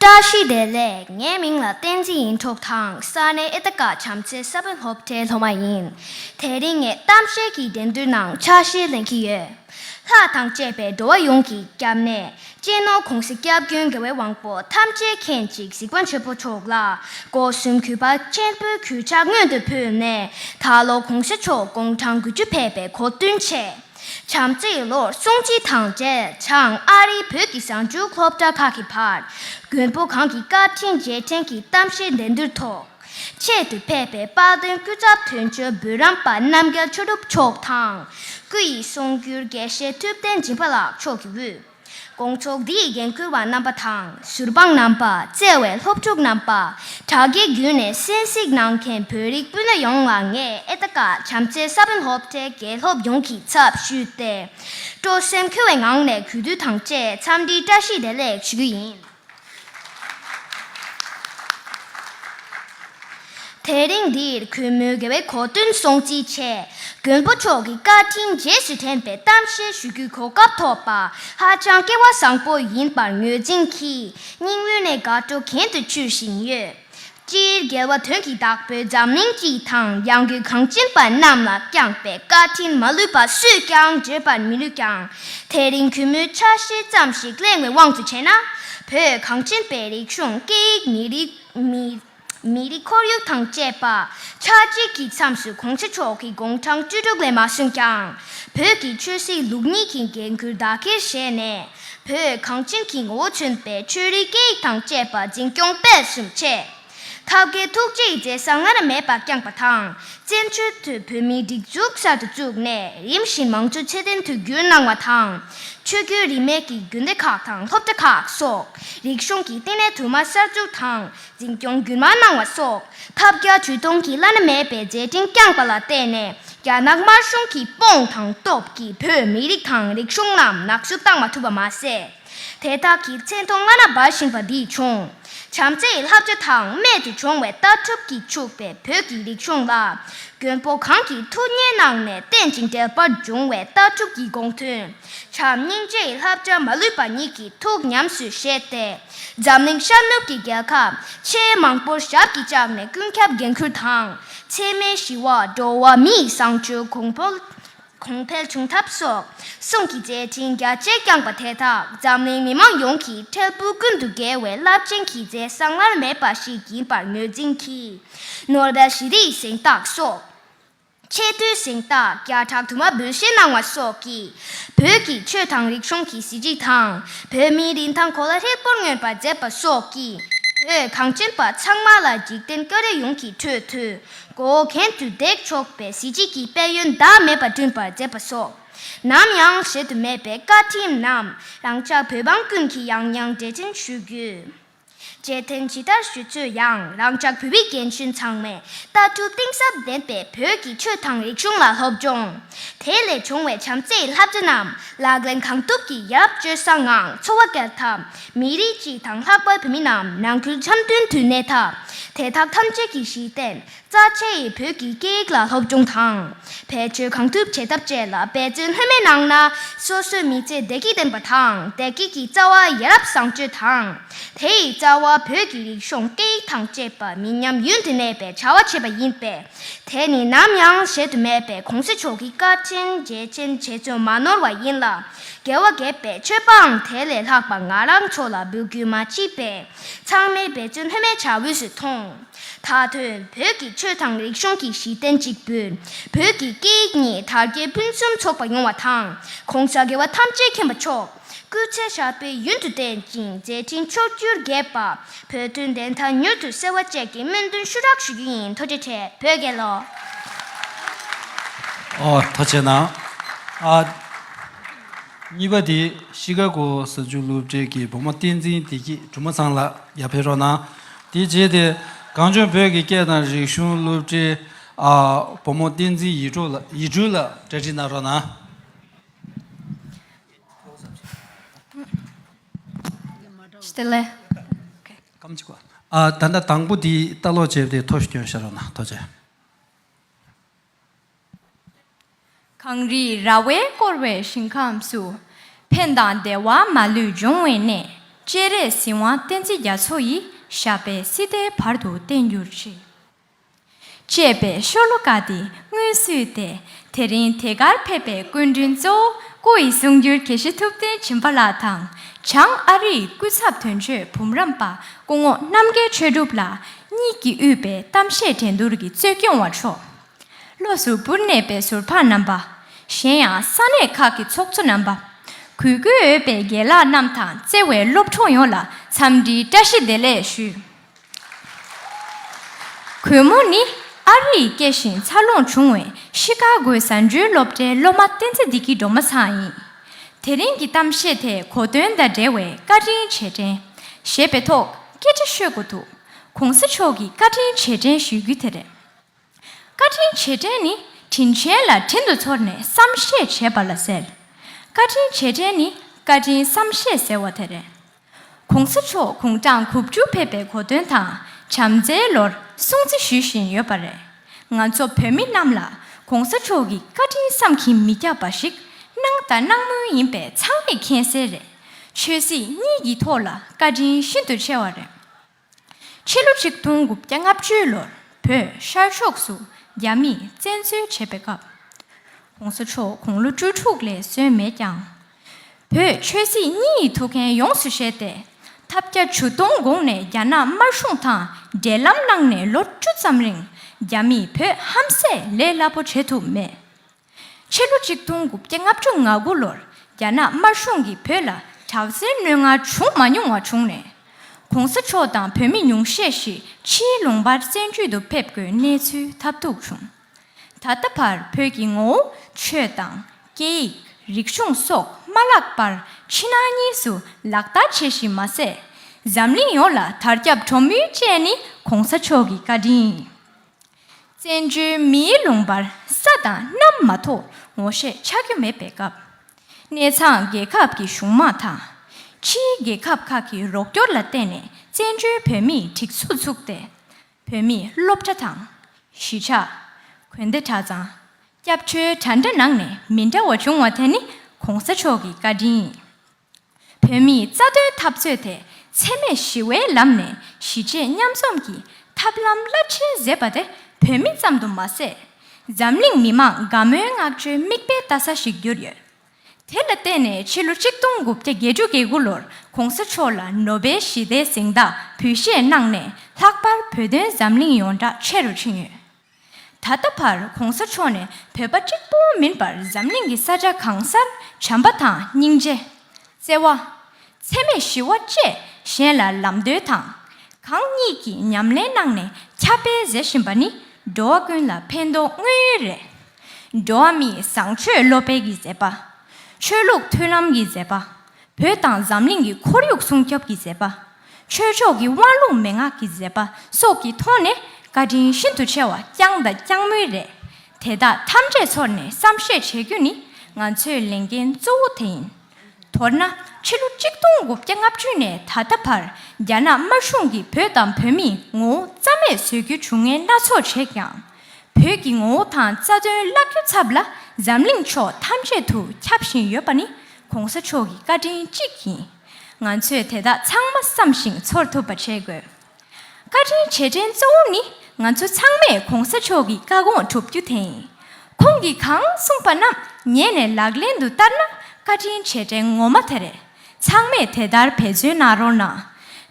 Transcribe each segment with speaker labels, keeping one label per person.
Speaker 1: བཀྲ་ཤིས་བདེ་ལེགས་ངའི་མིང་ལ་བསྟན་འཛིན་ཡིན་འཁྲུག་དང་ས་གནས་ཨེ་ད་ཀ་བྱམས་བརྩེ་ས་བོན་སློབ་གྲྭའི་སློབ་མ་ཡིན། དེ་རིང་ངས་གཏམ་བཤད་ཀྱི་འགྲན་བསྡུར་ནང་ཆ་ཤས་ལེན་གྱི་ཡོད། ལྷ་དང་བཅས་པའི་འགྲོ་བ་ཡོངས་ཀྱི་སྐྱབས་གནས་གཅེས་ནོར་གོང་གསལ་སྐྱབས་རྒྱུན་དགེ་བའི་དབང་པོ་ཐམས་ཅད་མཁྱེན་ཅིག་གཟིགས་པ་འཕྱོན་པོ་མཆོག་ལ་སྒོ་གསུམ་གུས་པ་ཆེན་པོས་གུས་ཕྱག་སྔོན་དུ་ཕུལ་ནས་ད་ལོ་གོང་ས་མཆོག་དགུང་གྲངས་དགུ་བཅུ་ཕེབས་པའི་གོ་བསྟུན་ཆེད། བྱམས་བརྩེའི་ལོར་གསུང་སྤྱི་དང་འབྲེལ་བྱང་ཨ་རིའི་བོད་ཀྱི་གསར་འགྱུར་སློབ་གྲྭ་ཁག་གི་བར་མགོན་པོ་གང་གི་བཀའ་དྲིན་རྗེས་དྲན་གྱི་གཏམ་བཤད་འགྲན་བསྡུར་ཐོག་ཆེད་དུ་ཕེབས་པའི་དཔལ་ལྡན་སྐུ་ཚབ་དོན་གཅོད་བུ་རམས་པ་རྣམ་རྒྱལ་ཆོས་གྲུབ་མཆོག་དང། སྐུ་ཡི་གསུང་བསྒྱུར་དགེ་བཤེས་ཐུབ་བསྟན་སྦྱིན་པ་ལགས་མཆོག་གི་དབུས། དགོངས་རྫོགས་འདི་ཡི་འགན་ཁུར་བ་རྣམ་པ་དང། ཟུར་དཔང་རྣམ་པ། བརྩེ་བའི་སློབ་ཕྲུག་རྣམ་པ། དྲ་རྒྱའི་བརྒྱུད་ནས་གསན་གཟིགས་གནང་མཁན་བོད་རིགས་སྤུན་ཟླ་ཡོངས་ལ་ངས་ཨེ་ད་ཀ་བྱམས་བརྩེའི་ས་བོན་སློབ་གྲྭའི་དགེ་སློབ་ཡོངས་ཀྱི་ཚབ་ཞུས་ཏེ། སྤྲོ་སེམས་འཁོལ་བའི་ངང་ནས་གུས་འདུད་དང་བཅས་འཚམས་འདྲིའི་བཀྲ་ཤིས་བདེ་ལེགས་ཞུ་རྒྱུ་ཡིན། དེ་རིང་འདིར་གུས་མོའི་དགེ་བའི་གོ་སྟོན་སྲུང་བརྩི་ཆེད་མགོན་པོ་མཆོག་གི་བཀའ་དྲིན་རྗེས་སུ་དྲན་པའི་གཏམ་བཤད་ཞུ་རྒྱུའི་གོ་སྐབས་ཐོབ་པ་ཧ་ཅང་སྐལ་བ་བཟང་པོ་ཡིན་པར་ངོས་འཛིན་གྱིས་སྙིང་དབུས་ནས་དགའ་སྤྲོ་གྱེན་དུ་འཕྱུར་བཞིན་ཡོད། སྤྱིར་རྒྱལ་བ་དོན་གྱི་བདག་པོས་འཛམ་གླིང་སྤྱི་དང་ཡང་སྒོས་གངས་ཅན་པ་རྣམས་ལ་བསྐྱངས་པའི་བཀའ་དྲིན་མ་ལུས་པ་སུས་ཀྱང་བརྗོད་པར་མི་ནུས་ཀྱང། དེ་རིང་གུས་མོའི་ཆ་ཤས་ཙམ་ཞིག་གླེང་བའི་དབང་དུ་བྱས་ན། བོད་གངས་ཅན་པའི་རིག་གཞུང་སྐད་ཡིག་མི་རིགས། མི་རིགས་ཁོར་ཡུག་དང་བཅས་པ་ཆགས་འཇིག་གི་མཚམས་སུ་གོང་ས་མཆོག་གི་དགུང་གྲངས་བཅུ་དྲུག་ལས་མ་སོན་ཀྱང། བོད་ཀྱི་ཆོས་སྲིད་ལུགས་གཉིས་ཀྱི་འགན་ཁུར་བདག་གིར་བཞེས་ནས། བོད་གངས་ཅན་གྱི་ངོ་བོ་མཚོན་པའི་ཆོས་རིག་སྐད་ཡིག་དང་བཅས་པ་འཛིན་སྐྱོང་སྤེལ་གསུམ་བྱས། ཐབས་མཁས་ཐུགས་རྗེས་མཛད་ས་སྔར་མེད་པ་བསྐྱངས་པ་དང་བཙན་བྱོལ་དུ་བོད་མིའི་སྒྲིག་འཛུགས་གསར་དུ་བཙུགས་ནས་རིམ་བཞིན་མང་གཙོའི་ཚད་ལྡན་དུས་འགྱུར་གནང་བ་དང། ཆོས་བརྒྱུད་རིས་མེད་ཀྱི་རྒྱུད་སྡེ་ཁག་དང་སློབ་གྲྭ་ཁག་སོགས་རིག་གཞུང་གི་བསྟི་གནས་དུ་མ་གསར་འཛུགས་དང་འཛིན་སྐྱོང་རྒྱུན་མ་གནང་བ་སོགས་ཐབས་བརྒྱ་ཇུས་སྟོང་གིས་བླ་ན་མེད་པའི་མཛད་འཕྲིན་བསྐྱངས་པ་ལ་བརྟེན་ནས་རྒྱ་ནག་དམར་གཞུང་གིས་དཔུང་དང་སྟོབས་ཀྱིས་བོད་མི་རིགས་དང་རིག་གཞུང་རྣམས་ནག་བཅོས་བཏང་མ་ཐུབ་པ་མ་ཟད། དེ་དག་གི་མཚན་མཐོང་སྔ་ན་སྦ་བཞིན་པ་འདི་བྱུང། བྱམས་བརྩེ་ཡི་ལྷ་བཅོས་དང་རྨད་དུ་བྱུང་བའི་ལྟ་གྲུབ་ཀྱིས་ཕྱུག་པའི་བོད་ཀྱི་རིག་གཞུང་ལ། མགོན་པོ་གང་གིས་ཐུགས་གཉེར་གནང་ནས་རྟེན་ཅིང་འབྲེལ་པར་འབྱུང་བའི་ལྟ་གྲུབ་ཀྱི་དགོངས་དོན། བྱམས་སྙིང་རྗེ་ཡི་ལྷ་བཅའ་མ་ལུས་པ་ཉིད་ཀྱི་ཐུགས་ཉམས་སུ་བཞེས་ཏེ། འཛམ་གླིང་ཤར་ནུབ་ཀྱི་རྒྱལ་ཁབ་ཆེས་མང་པོར་ཞབས་ཀྱིས་བཅགས་ནས་ཀུན་ཁྱབ་འགན་ཁུར་དང་འཚེ་མེད་ཞི་བ། འགྲོ་བ་མིའི་བཟང་སྤྱོད་གོང་འཕེལ་གོང་འཕེལ་བྱུང་ཐབས་སོགས་གསུམ་གྱི་མཛད་འཕྲིན་རྒྱ་ཆེ་བསྐྱངས་པ་དེ་དག་འཛམ་གླིང་མི་མང་ཡོངས་ཀྱི་འཕྲལ་ཕུགས་ཀུན་ཏུ་རྒྱལ་བའི་རླབས་ཆེན་གྱི་མཛད་བཟང་སྔར་མེད་པ་ཞིག་ཡིན་པར་ངོས་འཛིན་གྱིས་ནོར་བེལ་ཞི་བདེའི་གཟེངས་རྟགས་སོགས། ཆེས་མཐོའི་གཟེངས་རྟགས་བརྒྱ་ཕྲག་དུ་མ་འབུལ་བཞེས་གནང་བ་སོགས་ཀྱིས་བོད་ཀྱི་ཆོས་དང་རིག་གཞུང་གི་གཟི་བརྗིད་དང་བོད་མིའི་རིན་ཐང་གོ་ལ་ཧྲིལ་པོར་མངོན་པར་མཛད་པ་སོགས་ཀྱིས་བོད་གངས་ཅན་པ་ཚང་མ་ལ་འཇིག་རྟེན་སྐྱོ་རེ་ཡོངས་ཀྱི་ཁྲོད་དུ་མགོ་བོ་གྱེན་དུ་འདེགས་ཆོག་པའི་གཟི་བརྗིད་ཀྱི་དཔལ་ཡོན་ཟླ་མེད་པ་བསྐྲུན་པར་མཛད་པ་སོགས་ནམ་ཡང་བཞེད་དུ་མེད་པའི་བཀའ་ཁྲིམས་རྣམས་རང་ཅག་བོད་འབངས་ཀུན་གྱིས་ཡང་ཡང་འགྲེལ་ཆེན་ཞུ་རྒྱུ། བཅད་ཐེངས་ཇི་ལྟར་ཞུས་ཚོད་ཡང་རང་ཅག་བོད་མི་རྒན་གཞོན་ཚང་མས་ལྟ་གྲུབ་གཏིང་ཟབ་ལྡན་པའི་བོད་ཀྱི་ཆོས་དང་རིག་གཞུང་ལ་སློབ་སྦྱོང། དེ་ལས་བྱུང་བའི་བྱམས་བརྩེའི་བསླབ་བྱ་རྣམས་ལག་ལེན་གང་ཐུབ་ཀྱིས་ཡབ་སྤྱོད་བཟང་ངང་འཚོ་བ་སྐྱལ་ཐབས་མི་རིགས་སྤྱི་དང་ལྷག་པར་བོད་མི་རྣམས་ནང་ཁུལ་འཆམ་མཐུན་དུ་གནས་ཐབས་དེ་དག་ཐམས་ཅད་ཀྱི་གཞི་རྟེན་རྩ་ཆེ་ཡི་བོད་ཀྱི་སྐད་ཡིག་ལ་སློབ་སྦྱོང་དང་བེད་སྤྱོད་གང་ཐུབ་བྱེད་ཐབས་བཅས་ལ་འབད་བརྩོན་ལྷོད་མེད་གནང་ན་སོ་སོའི་མི་ཚེ་བདེ་སྐྱིད་ལྡན་པ་དང་བདེ་སྐྱིད་ཀྱི་རྩ་བ་ཡ་རབས་བཟང་སྤྱོད་དང་དེ་ཡི་རྩ་བ་བོད་ཀྱི་རིག་གཞུང་སྐད་ཡིག་དང་བཅས་པ་མི་ཉམས་ཡུན་དུ་གནས་པའི་བྱ་བ་བྱེད་པ་ཡིན་པས་དེ་ནི་ནམ་ཡང་བཞེད་དུ་མེད་པའི་གོང་ས་མཆོག་གི་བཀའ་དྲིན་རྗེས་དྲན་བྱེད་ཚུལ་མ་ནོར་བ་ཡིན་ལ་རྒྱལ་བ་དགྱེས་པའི་མཆོད་པའང་དེ་ལས་ལྷག་པ་ང་རང་ཚོ་ལ་འབུལ་རྒྱུ་མ་མཆིས་པས་ཚང་མའི་འབད་བརྩོན་ལྷོད་མེད་བྱ་འོས་སུ་མཐོང། ད་དུང་བོད་ཀྱི་ཆོས་དང་རིག་གཞུང་གི་གཞི་རྟེན་གཅིག་པུས་བོད་ཀྱི་སྐད་ཡིག་གཉིས་དར་རྒྱས་ཕུན་སུམ་ཚོགས་པ་ཡོང་བ་དང་གོང་ས་དགེ་བ་ཐམས་ཅད་མཁྱེན་པ་མཆོག་སྐུའི་མཚན་བཞག་པས་ཡུན་དུ་བརྟན་ཅིང་མཛད་འཕྲིན་ཕྱོགས་བཅུར་རྒྱས་པ་བོད་དོན་བདེན་མཐའ་མྱུར་དུ་གསལ་བ་བཅས་ཀྱི་སྨོན་འདུན་ཞུ་རག་ཞུ་རྒྱུ་ཡིན་ཐུགས་རྗེ་ཆེ་བོད་རྒྱལ་ལོ། ཨོ་
Speaker 2: ཐ་ཆེ་ན་ཨ། གཉིས་པ་དེ་ཤི་ཀ་གོ་ས་ཆུ་ལུག་འབྲས་ཀྱི་བུ་མོ་བསྟན་འཛིན་བདེ་སྐྱིད་གྲུ་མ་ཚང་ལགས་ཡར་འཕེལ་རོགས་གནང། དེའི་རྗེས་དེ་གངས་ལྗོངས་བོད་ཀྱི་སྐད་དང་རིག་གཞུང་སློབ་གྲྭའི་བུ་མོ་བསྟན་འཛིན་ཡིད་སྤྲུལ་ལ་གྲ་སྒྲིག་གནང་རོགས་གནང། ད་ལྟ་དང་པོ་དེའི་ལྟ་ཀློག་བྱས་པ་དེ་ཐོ་བཀྱོན་བྱེད་རོགས་གནང་ཐོ་བཅས།
Speaker 3: གངས་རིའི་ར་བས་བསྐོར་བའི་ཞིང་ཁམས་སུ། ཕན་དང་བདེ་བ་མ་ལུས་འབྱུང་བའི་གནས། སྤྱན་རས་གཟིགས་དབང་བསྟན་འཛིན་རྒྱ་མཚོ་ཡིས་ཞབས་པད་སྲིད་མཐའི་བར་དུ་བརྟན་གྱུར་ཅིག། ཅེས་པའི་ཤོ་ལོ་ཀ་འདི་སྔོན་བསུས་ཏེ་དེ་རིང་དེ་གར་ཕེབས་པའི་སྐུ་མགྲོན་གཙོ་བོ་སྐུ་ཡི་གསུང་བསྒྱུར་དགེ་བཤེས་ཐུབ་བསྟན་བྱིན་པ་ལགས་དང། བྱང་ཨ་རིའི་སྐུ་ཚབ་དོན་གཅོད་བུམ་རམས་པ་སྐུ་ངོ་རྣམ་རྒྱལ་ཆོས་གྲུབ་ལགས། གཉིས་ཀྱིས་དབུས་པའི་གཏམ་བཤད་འགྲན་བསྡུར་གྱི་གཙོས་སྐྱོང་བ་མཆོག། བློ་ཟུར་པུར་གནས་པའི་ཟུར་ཕག་རྣམ་པ། གཞན་ཡང་ས་གནས་ཁག་གི་ཚོགས་གཙོ་རྣམ་པ། གུས་བཀུར་འོས་པའི་རྒན་ལགས་རྣམས་དང་བརྩེ་བའི་སློབ་གྲོགས་ཡོངས་ལ་འཚམས་འདྲིའི་བཀྲ་ཤིས་བདེ་ལེགས་ཞུ། གུས་མོ་ནི་ཨ་རི་ཡི་སྐྱེས་ཤིང་འཚར་ལོངས་བྱུང་བའི་ཤི་ཀ་གོའི་ཟ་འབྲུའི་སློབ་གྲྭའི་སློབ་མ་བསྟན་འཛིན་བདེ་སྐྱིད་སྒྲོལ་མ་ཚང་ཡིན། དེ་རིང་གི་གཏམ་བཤད་དེ་གོ་དོན་དང་འབྲེལ་བའི་བཀའ་དྲིན་ཆེ་དྲན། ཞེས་པའི་ཐོག། སྐད་ཆ་ཤོད་དགོས་འདུག་གོང་ས་མཆོག་གིས་བཀའ་དྲིན་རྗེས་དྲན་ཞུ་རྒྱུ་དེ་རེད། བཀའ་དྲིན་རྗེས་དྲན་ནི་དྲིན་ཆེན་ལ་དྲིན་དུ་ཚོར་ནས་བསམ་ཤེས་བྱེད་པ་ལ་ཟེར། བཀའ་དྲིན་རྗེས་དྲན་ནི་བཀའ་དྲིན་བསམ་ཤེས་ཟེར་བ་དེ་རེད། གོང་ས་མཆོག་གུང་ཁྲང་དགུ་བཅུ་ཕེབས་པའི་གོ་སྟོན་དང་བྱམས་བརྩེའི་ལོར་སྲུང་བརྩི་ཞུ་བཞིན་ཡོད་པ་རེད། ང་ཚོ་བོད་མི་རྣམས་ལ་གོང་ས་མཆོག་གི་བཀའ་དྲིན་བསམ་གྱིས་མི་ཁྱབ་པ་ཞིག་གནང་དང་གནང་མུས་ཡིན་པས་ཚང་མས་མཁྱེན་གསལ་རེད། ཆོས་སྲིད་གཉིས་ཀྱི་ཐོག་ལ་བཀའ་དྲིན་ཤིན་ཏུ་ཆེ་བ་རེད། ཕྱི་ལོ་ཆིག་སྟོང་དགུ་བརྒྱ་ལྔ་བཅུའི་ལོར་བོད་ཤར་ཕྱོགས་སུ་རྒྱ་མིས་བཙན་འཛུལ་བྱས་པའི་སྐབས། གོང་ས་མཆོག་དགུང་ལོ་བཅུ་དྲུག་ལས་སོན་མེད་ཀྱང། བོད་ཆོས་སྲིད་གཉིས་ཡི་ཐུགས་འགན་ཡོངས་སུ་བཞེས་ཏེ། ཐབས་བརྒྱ་ཇུས་སྟོང་དགོངས་ནས་རྒྱ་ནག་དམར་གཞུང་དང་འབྲེལ་ལམ་གནང་ནས་ལོ་བཅུ་ཙམ་རིང་རྒྱ་མིས་བོད་ཧམ་ཟས་ལས་སླ་པོ་བྱེད་ཐུབ་མེད། ཕྱི་ལོ་གཅིག་སྟོང་དགུ་བརྒྱ་ལྔ་བཅུ་ང་དགུ་ལོར་རྒྱ་ནག་དམར་གཞུང་གིས་བོད་ལ་དྲག་གཟེར་བསྣོལ་ང་བྱུང་མ་མྱོང་བ་བྱུང་ནས། གོང་ས་མཆོག་དང་བོད་མི་ཉུང་ཤས་ཤིག་ཕྱིའི་ལུང་པར་བཙན་བྱོལ་དུ་ཕེབས་དགོས་གནས་ཚུལ་ཐབས་རྡུགས་བྱུང། ད་ལྟ་བར་བོད་ཀྱི་ངོ་བོ་ཆོས་དང་སྐད་ཡིག་རིག་གཞུང་སོགས་མ་བརླགས་པར་ཕྱི་ནང་གཉིས་སུ་ལག་བསྟར་བྱེད་བཞིན་མ་ཟད། འཛམ་གླིང་ཡོངས་ལ་དར་ཁྱབ་འགྲོ་མུས་བཅས་ནི་གོང་ས་མཆོག་གི་བཀའ་དྲིན་ཡིན། བཙན་བྱོལ་མིའི་ལུང་པར་ས་དང་གནམ་མ་གཏོགས་ངོ་ཤེས་ཆགས་རྒྱུ་མེད་པའི་སྐབས། གནས་ཚང་རྒྱལ་ཁབ་ཀྱི་གཞུང་དམངས་དང། ཕྱིའི་རྒྱལ་ཁབ་ཁག་གི་རོགས་སྐྱོར་ལ་བརྟེན་ནས་བཙན་བྱོལ་བོད་མིས་སྒྲིག་འཛུགས་བཙུགས་ཏེ། བོད་མིས་སློབ་གྲྭ་དང། གཞིས་ཆགས། དགོན་སྡེ་གྲྭ་ཚང། སྐྱབས་བཅོལ་གྲྭ་འདྲ་ནང་ནས་མི་འདྲ་བ་བྱུང་བ་དེ་ནི་གོང་ས་མཆོག་གི་བཀའ་དྲིན་ཡིན། བོད་མིའི་རྩ་དོན་འཐབ་རྩོད་དེ་འཚེ་མེད་ཞི་བའི་ལམ་ནས་གཞིས་བྱེས་མཉམ་འཛོམས་ཀྱི་ཐབས་ལམ་རླབས་ཆེན་བཟོས་པ་དེ་བོད་མི་ཙམ་དུ་མ་ཟད། འཛམ་གླིང་མི་མང་དགའ་མོས་བསྔགས་བརྗོད་མིག་དཔེ་ལྟ་ས་ཞིག་གྱུར་ཡོད། དེ་ལ་བརྟེན་ནས་ཕྱི་ལོ་གཅིག་སྟོང་དགུ་བརྒྱ་བརྒྱད་ཅུ་གྱི་དགུ་ལོར་གོང་ས་མཆོག་ལ་ནོ་བེལ་ཞི་བདེའི་གཟེངས་རྟགས་ཕུལ་བཞེས་གནང་ནས་ལྷག་པར་བོད་དོན་འཛམ་གླིང་ཡོངས་གྲགས་ཆེ་རུ་ཕྱིན་ཡོད། ད་ལྟ་བར་གོང་ས་མཆོག་ནས་བོད་པ་གཅིག་པུ་མིན་པར་འཛམ་གླིང་གི་ས་ཆ་གང་སར་བྱམས་པ་དང་སྙིང་རྗེ། བརྩེ་བ། འཚེ་མེད་ཞི་བ་བཅས་གཞན་ལ་ལམ་སྟོན་དང། གང་གཉིས་ཀྱི་ཉམས་ལེན་གནང་ནས་ཁྱབ་སྤེལ་མཛད་བཞིན་པ་ནི་འགྲོ་བ་ཀུན་ལ་ཕན་འདོགས་དངོས་ཡོད་རེད། འགྲོ་བ་མིའི་བཟང་སྤྱོད་བློ་འཕེལ་གྱི་མཛད་པ། ཆོས་ལུགས་མཐུན་ལམ་གྱི་མཛད་པ། བོད་དང་འཛམ་གླིང་གི་ཁོར་ཡུག་སྲུང་སྐྱོབ་ཀྱི་མཛད་པ། ཆོས་ཕྱོགས་ཀྱི་དབང་ལུང་མན་ངག་གི་མཛད་པ་སོགས་ཀྱི་ཐོག་ནས་བཀའ་དྲིན་ཤིན་ཏུ་ཆེ་བ་བསྐྱངས་དང་བསྐྱངས་མུས་རེད། དེ་དག་ཐམས་ཅད་ཚོར་ནས་བསམ་ཤེས་བྱེད་རྒྱུ་ནི་ང་ཚོའི་ལས་འགན་གཙོ་བོ་དེ་ཡིན། མདོར་ན་ཕྱི་ལོ་གཅིག་སྟོང་དགུ་བརྒྱ་ལྔ་བཅུ་ནས་ད་ལྟ་བར་རྒྱ་ནག་དམར་གཞུང་གིས་བོད་དང་བོད་མིའི་ངོ་བོ་རྩ་མེད་བཟོ་རྒྱུའི་བྱུང་ངན་སྣ་ཚོགས་བྱས་ཀྱང། བོད་ཀྱི་ངོ་བོ་དང་རྩ་དོན་བརླག་རྒྱུ་ཚབ་ལ་འཛམ་གླིང་ཕྱོགས་ཐམས་ཅད་དུ་ཁྱབ་བཞིན་ཡོད་པ་ནི་གོང་ས་མཆོག་གི་བཀའ་དྲིན་གཅིག་ཡིན། ང་ཚོས་དེ་དག་ཚང་མ་བསམ་ཞིང་ཚོར་ཐུབ་པ་བྱེད་དགོས། བཀའ་དྲིན་ཆེ་དྲན་གཙོ་བོ་ནི་ང་ཚོ་ཚང་མས་གོང་ས་མཆོག་གི་བཀའ་དགོངས་སྒྲུབ་རྒྱུ་དེ་ཡིན། ཁོང་གིས་གང་གསུངས་པ་རྣམས་ཉན་ནས་ལག་ལེན་དུ་བསྟར་ན་བཀའ་དྲིན་ཆེ་དྲན་ངོ་མ་དེ་རེད། ཚང་མས་དེ་ལྟར་བེད་སྤྱོད་གནང་རོགས་གནང།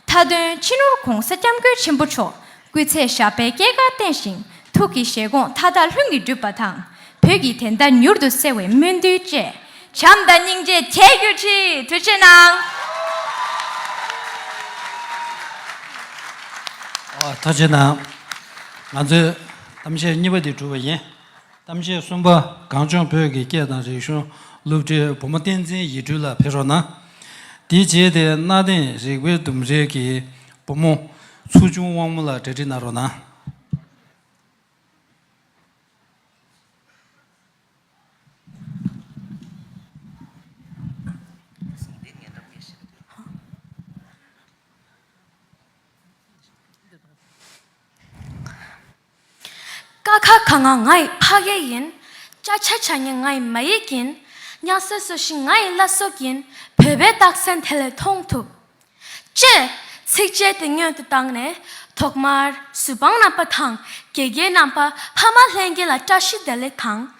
Speaker 3: མཐའ་དོན་ཕྱི་ནོར་གོང་ས་སྐྱབས་མགོན་ཆེན་པོ་མཆོག་སྐུའི་ཚད་ཞབས་པད་སྐྱེས་སྐར་བསྟན་ཞིང་ཐུགས་ཀྱི་བཞེད་དགོངས་མཐའ་དག་ལྷུན་གྱིས་གྲུབ་པ་དང། བོད་ཀྱི་དད་ཟླ་མྱུར་དུ་གསལ་བའི་སྨོན་འདུན་བཅས། བྱམས་དང་སྙིང་རྗེ་དད་གུས་ཁྲི་འཐུད་ཆེ་གནང།
Speaker 2: ཐུགས་ཆེ་གནང། ང་ཚོས་གཏམ་བཤད་གཉིས་པ་འདི་གྲུབ་པ་ཡིན། གཏམ་བཤད་གསུམ་པ་གངས་ལྗོངས་བོད་ཀྱི་སྐད་དང་རིག་གཞུང་སློབ་ཁྲིད་བུ་མོ་བསྟན་འཛིན་ཡིད་སྤྲུལ་ལ་ཕེབས་རོགས་གནང། དེ་རྗེས་དེ་སྣ་དེང་རིག་པའི་ལྡུམ་རའི་གི་བུ་མོ། ཚུར་བྱུང་དབང་མོ་ལ་འབྲེལ་འདྲིས་གནང་རོགས་གནང།
Speaker 3: ཀ་ཁ་ག་ང་ང་ཡི་ཕ་གཡས་ཡིན། ཅ་ཆ་ཆ་ཉི་ང་ཡི་མ་ཡིག་ཡིན། གཉའ་སོ་སོ་ཤི་ང་ཡི་བླ་སྲོག་ཡིན། བོད་པའི་རྟགས་མཚན་དེ་ལས་མཐོང་ཐུབ། ཅེས། ཚིགས་བཅད་དེ་སྙོན་དུ་བཏང་ནས། ཐོག་མར། གཟུ་དཔང་རྣམ་པ་དང་དགེ་རྒན་རྣམ་པ་ཕ་མ་ལྷན་རྒྱས་ལ་བཀྲ་ཤིས་བདེ་ལེགས་དང།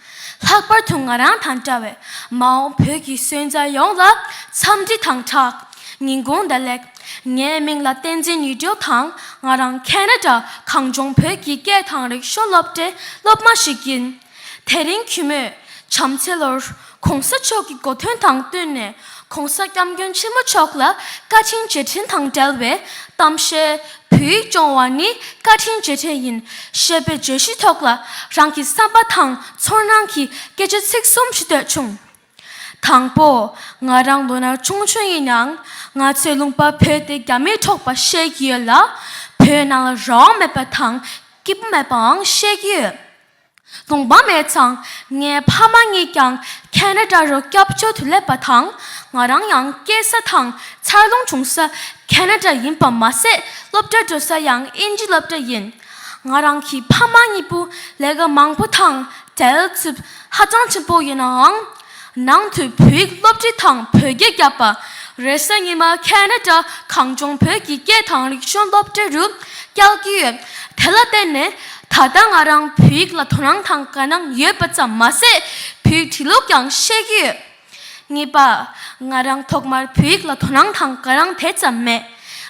Speaker 3: ལྷག་པར་དུ་ང་རང་དང་འདྲ་བའི་མ་འོངས་བོད་ཀྱི་སོན་རྩ་ཡོངས་ལ་འཚམས་འདྲི་དང་དྲག་གཉེན་དགུང་ཟླ་ལེགས། ངའི་མིང་ལ་བསྟན་འཛིན་ཉི་སྦྲེལ་དང་ང་རང་ཁེན་ར་ཏྲ་གངས་ལྗོངས་བོད་ཀྱི་སྐད་དང་རིག་གཞུང་སློབ་གྲྭའི་སློབ་མ་ཞིག་ཡིན། དེ་རིང་གུས་མོས་བྱམས་བརྩེ་ལོར ྋགོང་ས་མཆོག་གི་གོ་དོན་དང་བསྟུན་ནས ྋགོང་ས ྋསྐྱབས་མགོན་ཆེན་པོ་མཆོག་ལ་བཀའ་དྲིན་རྗེས་དྲན་དང་འབྲེལ་བའི་གཏམ་བཤད། བོད་ཡིག་སྦྱོང་བ་ནི་བཀའ་དྲིན་རྗེས་དྲན་ཡིན། ཞེས་པའི་བརྗོད་གཞི་ཐོག་ལ་རང་གི་བསམ་པ་དང་ཚོར་སྣང་གི་སྐད་ཆ་ཚིག་གསུམ་ཞུ་འདོད་བྱུང། དང་པོ། ང་རང་ལོ་ན་ཆུང་ཆུང་ཡིན་ཡང། ང་ཚོའི་ལུང་པ་བོད་དེ་རྒྱ་མིས་འཕྲོག་པ་ཤེས་ཀྱི་ཡོད་ལ། བོད་ནང་ལ་རང་དབང་མེད་པ་དང་སྐྱིད་པོ་མེད་པའང་ཤེས་ཀྱི་ཡོད། དགོངས་པ་མེད་ཙང་ངའི་ཕ་མ་གཉིས་ཀྱང་ཁེན་ར་ཏྲ་རུ་སྐྱབས་བཅོལ་དུ་སླེབས་པ་དང་ང་རང་ཡང་སྐྱེས་ས་དང་འཚར་ལོངས་བྱུང་ས་ཁེན་ར་ཏྲ་ཡིན་པ་མ་ཟད་སློབ་གྲྭ་འགྲོ་ས་ཡང་དབྱིན་ཇི་སློབ་གྲྭ་ཡིན། ང་རང་གི་ཕ་མ་གཉིས་པོ་ལས་ཀ་མང་པོ་དང་བྲལ་འཚུབ་ཧ་ཅང་ཆེན་པོ་ཡིན་ནའང་ནང་དུ་བོད་ཡིག་སློབ་ཁྲིད་དང་བོད་རྒྱ་བརྒྱབ་པ། རེས་གཟའ་ཉི་མ Canada གངས་ལྗོངས་བོད་ཀྱི་སྐད་དང་རིག་གཞུང་སློབ་གྲྭ་རུ་བསྐྱལ་གྱི་ཡོད། དེ་ལ་བརྟེན་ནས་ད་ལྟ་ང་རང་བོད་ཡིག་ལ་དོ་སྣང་དང་དགའ་སྣང་ཡོད་པ་ཙམ་མ་ཟད་བོད་ཡིག་བྲིས་ལུགས་ཀྱང་ཤེས་ཀྱི་ཡོད། གཉིས་པ། ང་རང་ཐོག་མར་བོད་ཡིག་ལ་དོ་སྣང་དང་དགའ་སྣང་དེ་ཙམ་མེད།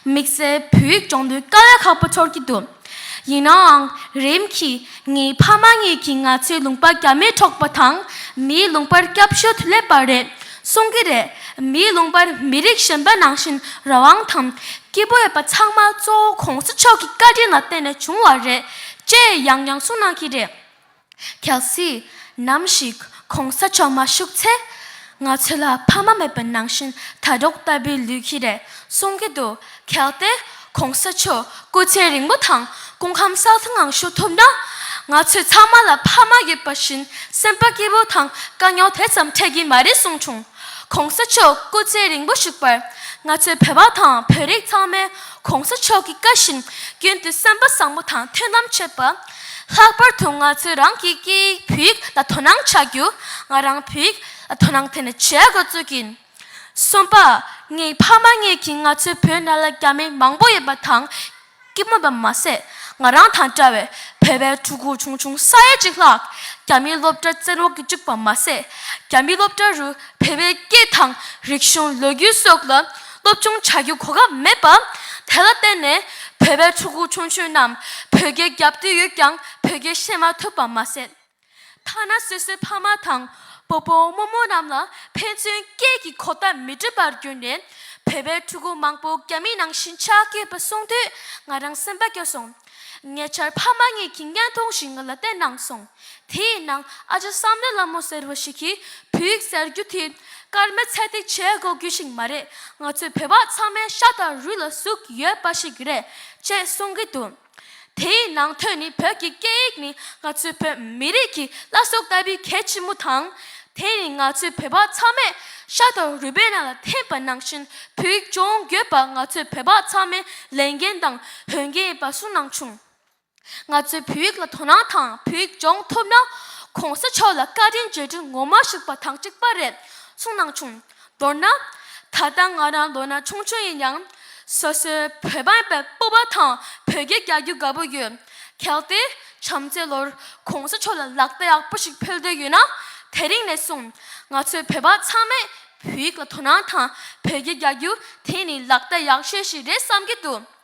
Speaker 3: དམིགས་བསལ་བོད་ཡིག་སྦྱོང་དུས་དཀའ་ལས་ཁག་པོ་ཚོར་གྱི་འདུག། ཡིན་ནའང་རིམ་གྱིས་ངའི་ཕ་མ་གཉིས་ཀྱིས་ང་ཚོའི་ལུང་པ་རྒྱ་མིས་འཕྲོག་པ་དང་མིའི་ལུང་པར་སྐྱབས་བཅོལ་དུ་སླེབས་པ་རེད་གསུང་གི་རེད། མིའི་ལུང་པར་མི་རིགས་གཞན་པ་ནང་བཞིན་རང་དབང་དང་སྐྱིད་པོ་ཡོད་པ་ཚང་མ་གཙོ་བོ་གོང་ས་མཆོག་གི་བཀའ་དྲིན་ལ་བརྟེན་ནས་བྱུང་བ་རེད་ཅེས་ཡང་ཡང་གསུང་གནང་གི་རེད། གལ་སྲིད་ནམ་ཞིག་གོང་ས་མཆོག་མ་བཞུགས་ཚེ། ང་ཚོ་ལ་ཕ་མ་མེད་པ་ནང་བཞིན་དྲ་གྲོགས་ལྟ་བུའི་ལུས་ཀྱི་རེད་གསུང་གི་འདུག་གལ་ཏེ་གོང་ས་མཆོག་སྐུ་ཚེ་རིང་པོ་དང་སྐུ་ཁམས་སྲ་ལྷུང་ངང་བཞུགས་ཐུབ་ན། ང་ཚོས་ཚང་མ་ལ་ཕ་མ་ཡོད་པ་བཞིན་སེམས་པ་སྐྱིད་པོ་དང་དཀའ་རྙོག་དེ་ཙམ་འཕྲད་ཀྱི་མ་རེད་གསུངས་བྱུང། གོང་ས་མཆོག་སྐུ་ཚེ་རིང་པོ་བཞུགས་པར་ང་ཚོའི་བོད་པ་དང་བོད་རིགས་ཚང་མས་གོང་ས་མཆོག་གི་བཀའ་བཞིན་ཀུན་ཏུ་སེམས་པ་བཟང་པོ་དང་མཐུན་ལམ་བྱེད་པ། ལྷག་པར་དུ་ང་ཚོས་རང་གི་སྐད་ཡིག་བོད་ཡིག་ལ་དོ་སྣང་བྱ་རྒྱུ། ང་རང་བོད་ཡིག་ལ་དོ་སྣང་དེ་ནས་བྱེད་དགོས་ཚུལ་གྱི། གསུམ་པ། ངའི་ཕ་མ་གཉིས་ཀྱིས་ང་ཚོའི་བུ་ནཱ་ལེནྡྲ་རྒྱ་མི་མང་པོ་ཡོད་པ་དང། སྐྱིད་མོ་བ་མ་ཟད་ང་རང་དང་འདྲ་བའི་བོད་པའི་ཕྲུ་གུ་ཆུང་ཆུང་ས་ཡ་གཅིག་ལྷག་རྒྱ་མིའི་སློབ་གྲྭར་བཙན་འོག་གི་བཅུག་པ་མ་ཟད་རྒྱ་མིའི་སློབ་གྲྭ་རུ་བོད་པའི་སྐད་དང་རིག་གཞུང་ལོ་རྒྱུས་སོགས་ལ་སྟོབས་ཆུང་བྱ་རྒྱུའི་གོ་སྐབས་མེད་པ། དེ་ལ་བརྟེན་ནས་བོད་པའི་ཕྲུ་གུ་ཆུང་ཆུང་རྣམས་བོད་རྒྱའི་རྒྱབ་བསྟུད་ཡོད་ཀྱང་བོད་རྒྱའི་ཤེས་མ་ཐུབ་པ་མ་ཟད། ཐ་ན་སོ་སོའི་ཕ་མ་དང་བུ་བུ་མོ་མོ་རྣམས་ལ་ཕན་ཚུན་སྐད་ཀྱི་གོ་བརྡ་མི་འདྲི་བར་གྱུར་ནས་བོད་པའི་ཕྲུ་གུ་མང་པོ་རྒྱ་མི་ནང་བཞིན་ཆགས་ཡོད་པ་གསུངས་དུས་ང་རང་སེམས་པ་སྐྱོ་སོང། ཉེ་ཆར་ཕ་མ་གཉིས་ཀྱིས་བརྙན་ཐུང་ཞིག་ང་ལ་བསྟན་གནང་སོང། དེ་ཡི་ནང་ཨ་ཅག་བསམ་ལེ་ལ་མོ་ཟེར་བ་ཞིག་གིས་བོད་ཡིག་ཟེར་རྒྱུ་དེ་སྐར་མའི་ཚད་ཐིག་བྱེད་དགོས་རྒྱུ་ཞིག་མ་རེད་ང་ཚོའི་བོད་པ་ཚང་མའི་ཤ་དང་རུས་ལ་ཟུག་ཡོད་པ་ཞིག་རེད་ཅེས་གསུང་གི་འདུག་དེ་ཡི་ནང་དོན་ནི་བོད་ཀྱི་སྐད་ཡིག་ནི་ང་ཚོའི་བོད་མི་རིགས་ཀྱི་བླ་སྲོག་ལྟ་བུའི་གལ་ཆེན་མོ་དང། དེ་ནི་ང་ཚོའི་བོད་པ་ཚང་མས་ཤ་དང་རུས་པའི་ནང་ལ་འཐེན་པ་ནང་བཞིན་བོད་ཡིག་སྦྱོང་འགྱོད་པ་ང་ཚོའི་བོད་པ་ཚང་མའི་ལས་འགན་དང་དོན་གལ་ཡིན་པ་གསུངས་གནང་བྱུང། ང་ཚོའི་བོད་ཡིག་ལ་དོ་སྣང་དང་བོད་ཡིག་སྦྱོང་ཐུབ་ན། གོང་ས་མཆོག་ལ་བཀའ་དྲིན་རྗེས་དྲན་ངོ་མ་ཞུགས་པ་དང་གཅིག་པ་རེད་གསུངས་གནང་བྱུང། མདོར་ན། ད་ལྟ་ང་རང་ལོ་ན་ཆུང་ཆུང་ཡིན་ཡང། སོ་སོའི་བོད་འབངས་པའི་སྤོབས་པ་དང་བོད་སྐད་རྒྱག་རྒྱུ་དགའ་པོ་ཡོད། གལ་ཏེ། བྱམས་བརྩེ་ལོར་གོང་ས་མཆོག་ལ་ལག་བརྡ་ཡག་པོ་ཞིག་ཕུལ་འདོད་ཡོད་ན། དེ་རིང་ནས་བཟུང་ང་ཚོའི་བོད་པ་ཚང་མས་བོད་ཡིག་ལ་དོ་སྣང་དང་བོད་སྐད་རྒྱག་རྒྱུ་དེ་ནི་ལག་བརྡ་ཡག་ཤོས་ཤིག་རེད་བསམ་གྱི་འདུག།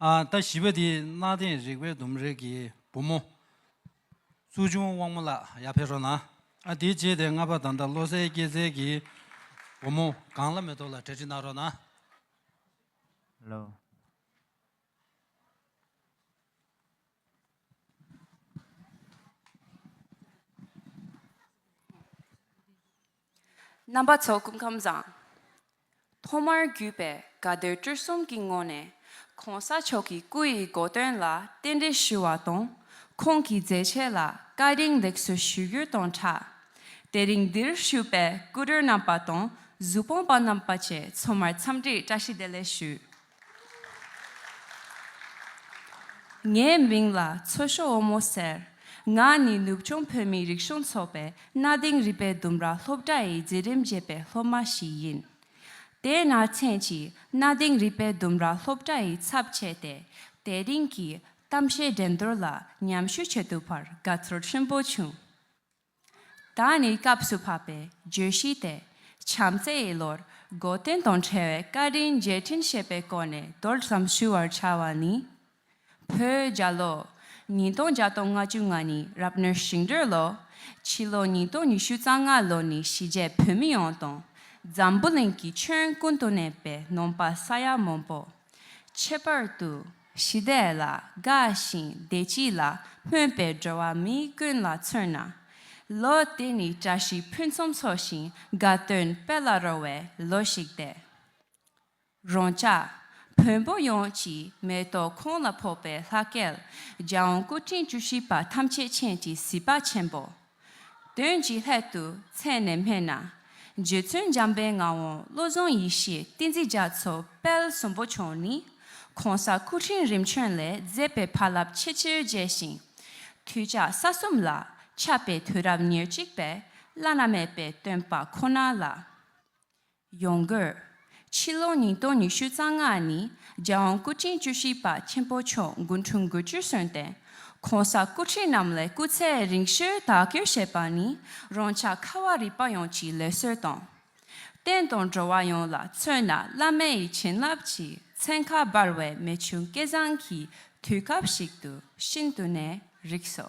Speaker 2: ད་བཞི་པ་དེ་གནའ་དེང་རིག་པའི་ལྡུམ་རའི་གི་བུ་མོ། ཙུའུ་ཆུང་དབང་མོ་ལགས་ཡར་ཕེབས་རོགས་གནང། དེའི་རྗེས་དེ་ལྔ་པ་ད་ལྟ་བློ་གསལ་སྐྱེད་ཚལ་གི་བུ་མོ་གངས་ལྷ་མེ་ཏོག་ལགས་གྲལ་སྒྲིག་གནང་རོགས་གནང།
Speaker 4: ལོ།
Speaker 5: རྣམ་པ་ཚོགས་སྐུ་ཁམས་བཟང། ཐོག་མར་བརྒྱུད་པའི་དགའ་སྡོད་སྤྲུལ་གསུམ་གྱི་ངོས་ནས་གོང་ས་མཆོག་གི་སྐུ་ཡི་དགོས་དོན་ལ་རྟེན་འབྲེལ་ཞུ་བ་དང་ཁོང་གི་མཛད་རྗེས་ལ་བཀའ་དྲིན་ལེགས་གསོལ་ཞུ་རྒྱུ་དང་ཕྲ། དེ་རིང་འདིར་ཞུགས་པའི་སྐུ་མགྲོན་རྣམ་པ་དང་གཟུ་དཔོན་པ་རྣམ་པ་བཅས་ཚོ་མར་འཚམས་འདྲིའི་བཀྲ་ཤིས་བདེ་ལེགས་ཞུ། ངའི་མིང་ལ་མཚོ་ཤོ་བོ་མོ་ཟེར། ང་ནི་ནུབ་བྱང་བོད་མིའི་རིག་གཞུང་ཚོགས་པའི་གནའ་དེང་རིག་པའི་ལྡུམ་ར་སློབ་གྲྭ་ཡི་འཛིན་རིམ་བརྒྱད་པའི་སློབ་མ་ཞིག་ཡིན། དེ་སྔ་མཚན་གྱིས་གནའ་དེང་རིག་པའི་ལྡུམ་ར་སློབ་གྲྭ་ཡི་ཚབ་བྱས་ཏེ་དེ་རིང་གི་གཏམ་བཤད་འགྲན་བསྡུར་ལ་མཉམ་ཞུགས་བྱེད་ཐུབ་པར་དགའ་ཚོར་ཆེན་པོ་བྱུང། ད་ནི་སྐབས་སུ་བབ་པའི་བརྗོད་གཞི་དེ་བྱམས་བརྩེ་ཡི་ལོར་སྒོ་གཏན་དང་བྲལ་བའི་བཀའ་དྲིན་རྗེས་དྲན་བྱེད་པའི་སྐོར་ནས་མདོར་ཙམ་ཞུ་བར་བྱ་བ་ནི། བོད་རྒྱ་ལོ་ཉིས་སྟོང་བརྒྱ་དང་ང་བཅུ་ང་ནི་རབ་གནས་ཞིང་འབྲོས་ལོ། ཕྱི་ལོ་ཉིས་སྟོང་ཉི་ཤུ་རྩ་ལྔ་ལོ་ནི་གཞིས་བྱེས་བོད་མི་ཡོངས་དང་འཛམ་བུ་གླིང་གི་ཁྱོན་ཀུན་ཏུ་གནས་པའི་ནོམ་པ་ས་ཡ་མང་པོ། ཁྱད་པར་དུ། ཞི་བདེ་ལ་དགའ་ཞིང་བདེ་སྐྱིད་ལ་སྨོན་པའི་འགྲོ་བ་མི་ཀུན་ལ་མཚོན་ན། ལོ་དེ་ནི་བཀྲ་ཤིས་ཕུན་སུམ་ཚོགས་ཤིང་དགའ་སྟོན་དཔལ་ལ་རོལ་བའི་ལོ་ཞིག་སྟེ། རོང་བཅའ་བོན་པོ་ཡོངས་ཀྱིས་མེ་ཏོག་ཁོང་ལ་ཕོག་པའི་ལྷ་སྐལ་རྒྱལ་དབང་སྐུ་ཕྲེང་བཅུ་བཞི་པ་ཐམས་ཅད་མཁྱེན་གྱི་གཟི་དཔའ་ཆེན་པོ། དོན་གྱི་ལྷད་དུ་མཚན་ནས་སྨྲས་ན། རྗེ་བཙུན་འཇམ་དཔལ་ངག་དབང་བློ་བཟང་ཡེ་ཤེས་བསྟན་འཛིན་རྒྱ་མཚོ་དཔལ་གསུམ་པོ་མཆོག་ནི། གོང་ས་སྐུ་ཕྲེང་རིམ་བྱོན་ལས་མཛད་པའི་བར་རླབས་ཆེ་ཆེར་རྒྱས་ཤིང། དུས་ཕྱག་ས་གསུམ་ལ་ཁྱབ་པའི་དུས་རབས་ཉེར་གཅིག་པའི་བླ་ན་མེད་པའི་སྟོན་པ་ཁོ་ན་ལ། ཡོང་དགོས། ཕྱི་ལོ་ཉིས་སྟོང་ཉི་ཤུ་རྩ་ལྔ་ནི་རྒྱལ་དབང་སྐུ་ཕྲེང་བཅུ་བཞི་པ་ཆེན་པོ་མཆོག་མགོ་འཁྲུངས་དགུ་བཅུར་སོན་ཏེ། གོང་ས་སྐུ་ཕྲེང་རྣམས་ལས་སྐུ་ཚེ་རིང་བཞིར་དག་སྐྱོད་བྱས་པ་ནི་རང་ཅག་ཁ་བ་རི་པ་ཡོངས་ཀྱི་ལས་བསོད་དང། བསྟན་དང་འགྲོ་བ་ཡོངས་ལ་མཚོན་ན་བླ་མེད་ཡི་བྱིན་རླབས་ཀྱི་མཚན་ཁ་འབར་བའི་རྨད་བྱུང་སྐལ་བཟང་གི་དུས་སྐབས་ཤིག་ཏུ་ཤིན་ཏུ་ནས་རིགས་སོ།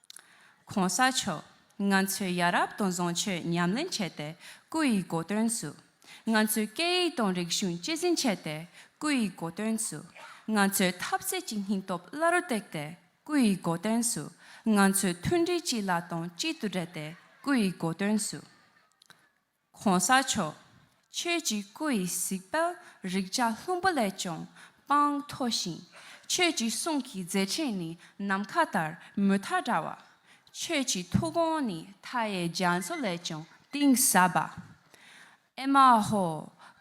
Speaker 5: ྋགོང་ས་མཆོག་ང་ཚོས་ཡ་རབས་དང་བཟང་སྤྱོད་ཉམས་ལེན་བྱས་ཏེ་སྐུ་ཡི་གོ་དོན་སུ། ང་ཚོས་སྐད་ཡིག་དང་རིག་གཞུང་གཅེས་འཛིན་བྱས་ཏེ་སྐུ་ཡི་གོ་དོན་སུ། ང་ཚོས་ཐབས་ཟད་ཀྱི་སྙིང་སྟོབས་བླ་རུ་བཏེགས་ཏེ་སྐུ་ཡི་གོ་དོན་སུ། ང་ཚོས་མཐུན་སྒྲིལ་གཅིག་ལ་དང་གཅིག་ཏུ་སྦྲེལ་ཏེ་སྐུ་ཡི་གོ་དོན་སུ། གོང་ས་མཆོག། ཁྱོད་ཀྱི་སྐུ་ཡི་གཟིགས་དཔལ་རིག་བྱ་ལྷུན་པོ་ལས་ཀྱང་དཔངས་མཐོ་ཞིང། ཁྱོད་ཀྱི་གསུང་གི་མཛད་ཕྲིན་ནི་ནམ་མཁའ་ལྟར་མུ་མཐའ་བཀྲ་བ། ཁྱོད་ཀྱི་ཐུགས་དགོངས་ནི་མཐའ་ཡས་རྒྱ་མཚོ་ལས་ཀྱང་གཏིང་ཟབ་པ། ཨེ་མ་ཧོ།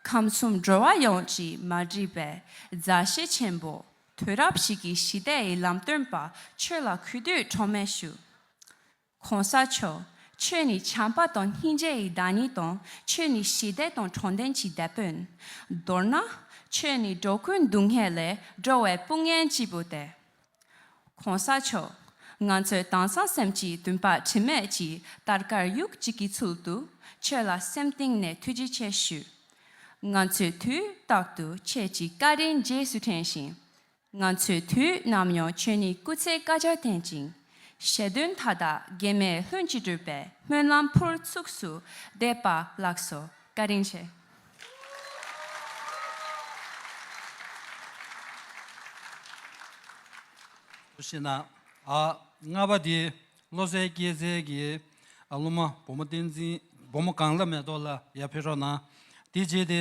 Speaker 5: ཁམས་གསུམ་འགྲོ་བ་ཡོངས་ཀྱི་མ་འདྲིས་པའི་མཛའ་བཤེས་ཆེན་པོ། དུས་རབས་ཤིག་གི་ཞི་བདེ་ཡི་ལམ་སྟོན་པ་ཁྱོད་ལ་གུས་འདུད་ཁྲོ་མེད་ཞུ། གོང་ས་མཆོག་ཁྱོད་ནི་བྱམས་པ་དང་སྙིང་རྗེ་ཡི་བདག་ཉིད་དང་ཁྱོད་ནི་ཞི་བདེ་དང་དྲང་བདེན་གྱི་དེད་དཔོན། མདོར་ན། ཁྱོད་ནི་འགྲོ་ཀུན་སྡུག་བསྔལ་ལས་སྒྲོལ་བའི་དཔུང་གཉེན་གཅིག་པུ་སྟེ། གོང་ས་མཆོག། ང་ཚོའི་དྭངས་གཙང་སེམས་ཀྱི་འདུན་པ་དྲི་མེད་ཀྱི་དར་དཀར་ཡུག་གཅིག་གི་ཚུལ་དུ་ཁྱོད་ལ་སེམས་གཏིང་ནས་ཐུགས་རྗེ་ཆེ་ཞུ། ང་ཚོས་དུས་རྟག་ཏུ་ཁྱེད་ཀྱི་བཀའ་དྲིན་རྗེས་སུ་དྲན་ཞིང། ང་ཚོས་དུས་ནམ་ཡང་ཁྱོད་ནི་སྐུ་ཚེ་བསྐལ་བརྒྱར་བརྟན་ཅིང། ཞལ་འདོན་མཐའ་དག་རྒྱན་མེད་ལྷུན་གྱིས་གྲུབ་པའི་སྨོན་ལམ་ཕུར་ཚུགས་སུ་འདེབས་པ་ལགས་སོ། བཀའ་དྲིན་ཆེ།
Speaker 2: སུ་ཞེ་ན། རྔ་པ་དེ་བློ་གསལ་སྐྱེས་ཚལ་གྱི་སློབ་མ་བུ་མོ་བསྟན་འཛིན་བུ་མོ་གངས་ལྷ་མེ་ཏོག་ལ་ཡར་ཕེབས་རོགས་གནང། དེ་རྗེས་དེ་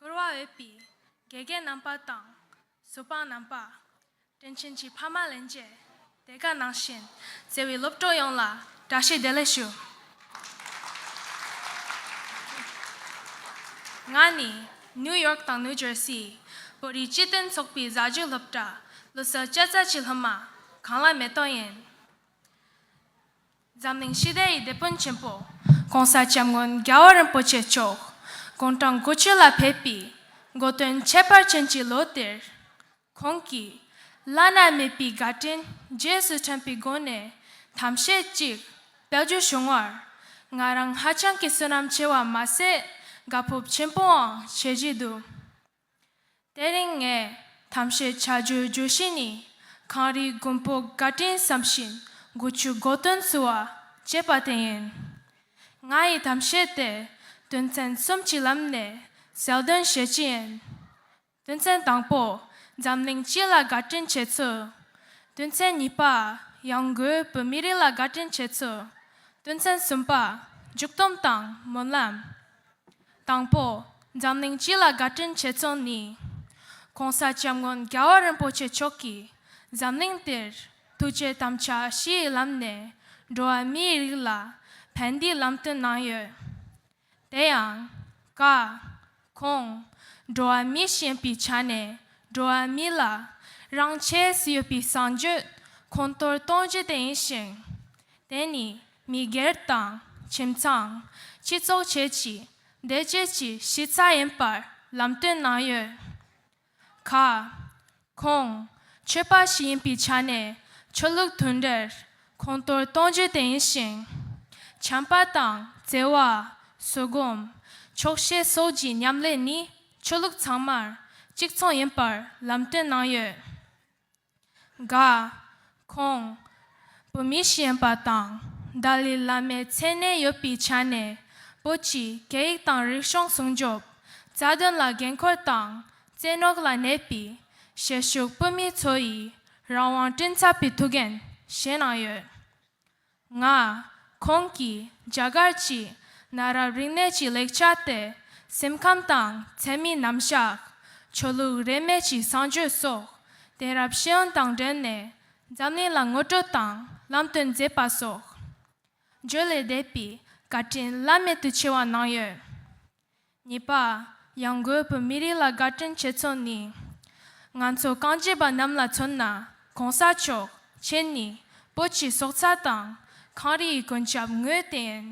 Speaker 6: བསྐོར་བ་འོས་པའི་དགེ་རྒན་རྣམ་པ་དང་བཟོད་པ་རྣམ་པ། དྲིན་ཆེན་གྱི་ཕ་མ་ལན་བརྒྱད། དེ་ག་ནང་བཞིན་བརྩེ་བའི་སློབ་གྲོགས་ཡོངས་ལ་བཀྲ་ཤིས་བདེ་ལེགས་ཞུ། ང་ནི New York དང New Jersey བོད་རིགས་སྤྱི་མཐུན་ཚོགས་པའི་གཟའ་བརྗིད་སློབ་གྲྭ་ལོ་གསར་བཅད་རྩ་བྱེད་སློབ་མ་གངས་ལྷ་མེ་ཏོག་ཡིན། འཛམ་གླིང་ཞི་བདེ་ཡི་དེད་དཔོན་ཆེན་པོ ྋགོང་ས ྋསྐྱབས་མགོན་རྒྱལ་བ་རིན་པོ་ཆེ་མཆོག་དགུང་གྲངས་དགུ་བཅུ་ལ་ཕེབས་པའི་འགོ་སྟོན་ཁྱད་པར་ཅན་གྱི་ལོ་དེར། ཁོང་གིས། བླ་ན་མེད་པའི་དགའ་སྤྲིན་རྗེས་སུ་དྲན་པའི་སྒོ་ནས་དམ་བཤད་ཅིག་བལྟ་རྒྱུ་བྱུང་བར། ང་རང་ཧ་ཅང་གི་བསོད་ནམས་ཆེ་བ་མ་ཟད་དགའ་སྤོབས་ཆེན་པོའང་བྱེད་བཞིན་འདུག་དེ་རིང་ངས་དམ་བཤད་བྱ་རྒྱུའི་བརྗོད་གཞི་ནི། གངས་རིའི་མགོན་པོ་དགའ་སྤྲིན་བསམ་བཞིན་དགུ་བཅུ་དགོ་སྟོན་བསུ་བ་ཅེས་པ་དེ་ཡིན། ང་ཡི་དམ་བཤད་དེ་དོན་ཚན་གསུམ་གྱི་ལམ་ནས་གསལ་འདོན་བྱེད་ཀྱི་ཡིན། དོན་ཚན་དང་པོ། འཛམ་གླིང་སྤྱི་ལ་དགའ་དྲིན་བྱེད་ཚུལ། དོན་ཚན་གཉིས་པ། ཡང་སྒོས་བོད་མི་རིགས་ལ་དགའ་དྲིན་བྱེད་ཚུལ། དོན་ཚན་གསུམ་པ། མཇུག་བསྡོམས་དང་སྨོན་ལམ། དང་པོ། འཛམ་གླིང་སྤྱི་ལ་དགའ་དྲིན་བྱེད་ཚུལ་ནི། ྋགོང་ས ྋསྐྱབས་མགོན་རྒྱལ་བ་རིན་པོ་ཆེ་མཆོག་གིས་འཛམ་གླིང་འདིར་ཐུགས་རྗེ་དམ་བཅའ་བཞི་ཡི་ལམ་ནས་འགྲོ་བ་མིའི་རིགས་ལ་ཕན་བདེའི་ལམ་སྟོན་གནང་ཡོད། དེ་ཡང། ཀ། གོང། འགྲོ་བ་མི་ཞེན་པའི་ཆ་ནས་འགྲོ་བ་མི་ལ་རང་ཆས་སུ་ཡོད་པའི་གསང་རྒྱུད་གོང་མཐོར་གཏོང་རྒྱུ་དེ་ཡིན་ཞིང། དེ་ནི་མི་སྒེར་དང་ཁྱིམ་ཚང། སྤྱི་ཚོགས་བཅས་ཀྱི་བདེ་སྐྱིད་ཀྱི་གཞི་རྩ་ཡིན་པར་ལམ་སྟོན་གནང་ཡོད། ག། ཁོང། ཆོས་པ་ཞིག་ཡིན་པའི་ཆ་ནས་ཆོས་ལུགས་དོན་འདིར་ཁོང་གཏོར་གཏོང་རྒྱུ་དེ་ཡིན་ཞིང། བྱམས་པ་དང་བརྩེ་བ། བཟོད་སྒོམ། ཆོག་ཤེས་སོགས་ཀྱི་མཉམ་ལས་ནི་ཆོས་ལུགས་ཚང་མར་གཅིག་མཚུངས་ཡིན་པར་ལམ་སྟོན་གནང་ཡོད། འགའ། ཁོང། བོད་མི་གཞན་པ་དང་ལྡ་ལི་བླ་མའི་མཚན་གནས་ཡོད་པའི་ཆ་ནས་བོད་ཀྱི་སྐད་ཡིག་དང་རིག་གཞུང་སྲུང་སྐྱོབ་རྩ་དོན་ལ་འགན་ཁུར་དང་རྩེ་ནོག་ལ་གནས་པའི་ཞལ་ཞུགས་བོད་མི་ཚོ་ཡི་རང་དབང་བཀྲིན་ཚབ་པའི་ཐུགས་འགན་བཞེས་གནང་ཡོད། ལྔ། ཁོང་གིས་རྒྱ་གར་གྱི་གནའ་རབས་རིག་གནས་ཀྱི་ལེགས་ཆ་སྟེ་སེམས་ཁམས་དང་མཚན་མིའི་རྣམ་གཞག། ཆོས་ལུགས་རེས་མེད་ཀྱི་བསང་མཆོད་སོགས་དེང་རབས་ཤེས་ཡོན་དང་འབྲེལ་ནས་འཛམ་གླིང་ལ་ངོ་སྤྲོད་དང་ལམ་སྟོན་མཛད་པ་སོགས་བརྗོད་ལས་འདས་པའི་བཀའ་དྲིན་བླ་མེད་དུ་ཆེ་བ་གནང་ཡོད། གཉིས་པ། ཡང་སྒོས་བོད་མི་རིགས་ལ་དགའ་སྤྲོན་བྱེད་ཚོགས་ནི། ང་ཚོ་རྐང་རྗེས་པ་རྣམས་ལ་མཚོན་ན་གོང་ས་མཆོག་མཆན་ནི་བོད་ཀྱི་སྲོག་རྩ་དང་གངས་རི་ཡི་གོན་ཆབ་ངོས་བསྟན།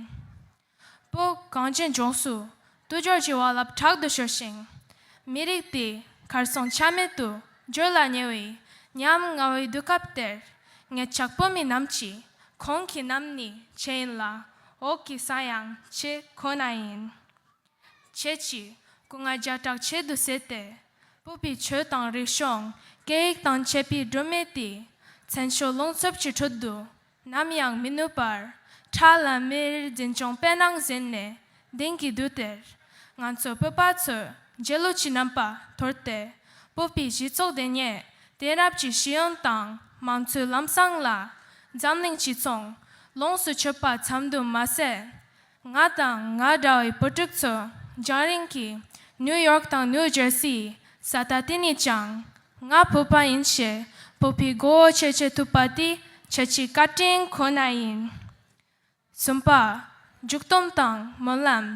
Speaker 6: བོད་གངས་ཅན་ལྗོངས་སུ་དུས་སྦྱོར་གྱི་བ་ལབ་དྲག་ཏུ་ཤོར་ཞིང། མི་རིགས་དེ་གར་སོང་ཆ་མེད་དུ་གྱུར་ལ་ཉེ་བའི་ཉམ་ང་བའི་དུས་སྐབས་དེར་ངེད་ཅག་བོད་མི་རྣམས་ཀྱིས་གོང་གི་རྣམས་ནི་བྱེ་ཡིན་ལ་འོག་གི་ས་ཡང་བྱེ་ཁོ་ན་ཡིན། བྱེད་ཅིག། སྐུ་ལྔ་བརྒྱ་དྲག་ཆེད་དུ་བསྲེས་ཏེ། སྤོབས་པའི་ཆོས་དང་རིག་གཞུང་སྐད་ཡིག་དང་བཅས་པའི་སྒྲོན་མེ་དེས། མཚན་ཕྱོགས་རླུང་འཚུབ་ཀྱི་ཁྲོད་དུ་ནམ་ཡང་མི་ནུབ་པར། ཁྲག་ལ་མེ་རིའི་འཛིན་སྐྱོང་པད་སྣང་གཟེངས་ནས་གདེང་གི་དུས་དེར། ང་ཚོ་བོད་པ་ཚོས་རྗེས་ལུས་ཀྱི་རྣམ་པ་དོར་ཏེ། སྤོབས་པའི་གཞི་ཚོགས་དེ་ཉིད་དེང་རབས་ཀྱི་ཤེས་ཡོན་དང་མང་གཙོའི་ལམ་བཟང་ལ། འཛམ་གླིང་སྤྱི་མཚུངས་ལོངས་སུ་སྤྱོད་པ་ཙམ་དུ་མ་ཟད། ང་དང་ང་འདྲ་བའི་བུ་ཕྲུག་ཚོ་རྒྱང་རིང་གི་ནིའུ་ཡོག་དང་ནིའུ་ཇར་སི་ཡི་ས་ཐག་དེ་ནས་ཀྱང་ང་བོད་པ་ཡིན་ཞེས་བོད་པའི་མགོ་བོ་ཕྱེ་བྱེད་ཐུབ་པ་དེ་ཁྱེད་ཀྱི་བཀའ་དྲིན་ཁོ་ན་ཡིན། གསུམ་པ། མཇུག་སྡོམ་དང་སྨོན་ལམ།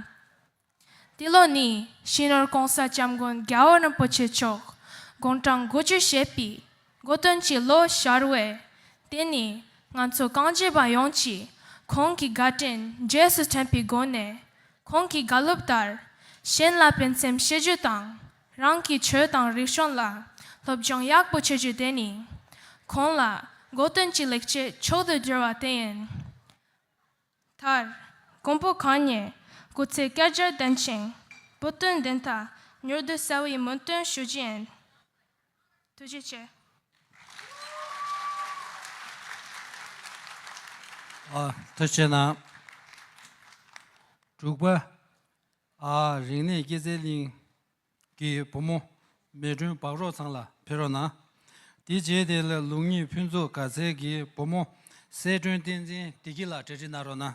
Speaker 6: འདི་ལོ་ནི་ཤིང་རོལ་གོང་ས་སྐྱབས་མགོན་རྒྱལ་བ་རིན་པོ་ཆེ་མཆོག་དགུང་གྲངས་དགུ་བཅུ་བཞེས་པའི་འགོ་སྟོན་གྱི་ལོ་ཤར་བས། དེ་ནི་ང་ཚོ་རྐང་རྗེས་པ་ཡོངས་ཀྱིས་ཁོང་གི་དགའ་དྲིན་རྗེས་སུ་དྲན་པའི་སྒོ་ནས། ཁོང་གི་དགའ་སློབ་ལྟར། གཞན་ལ་ཕན་སེམས་བྱེད་རྒྱུ་དང། རང་གི་ཆོས་དང་རིག་གཞུང་ལ་སློབ་སྦྱོང་ཡག་པོ་བྱེད་རྒྱུ་དེ་ནི། ཁོང་ལ་འགོ་སྟོན་གྱི་ལེགས་སྐྱེས་མཆོག་ཏུ་གྱུར་བ་དེ་ཡིན། མཐར། ཀོང་པོ་གང་ཉིད་སྐུ་ཚེ་བསྐལ་བརྒྱར་ལྡན་ཅིང། བུ་སྟོན་བདེན་མཐའ་མྱུར་དུ་གསལ་བའི་སྨོན་འདུན་ཞུ་རྒྱུ་ཡིན། ཐུགས་རྗེ་ཆེ། ཐུགས་ཆེ་གནང། དྲུག་
Speaker 2: པ། རིག་གནས་སྐྱེད་ཚལ་གླིང་གི་བུ་མོ་མེ་སྒྲོན་སྦག་རོག་ཚང་ལ་ཕེབས་རོགས་གནང། དེ་རྗེས་དེ་ལ་ལུགས་གཉིས་ཕུན་ཚོགས་དགའ་ཚལ་གྱི་བུ་མོ་གསལ་སྒྲོན་བསྟན་འཛིན་བདེ་སྐྱིད་ལགས་གྲལ་སྒྲིག་གནང་རོགས་གནང།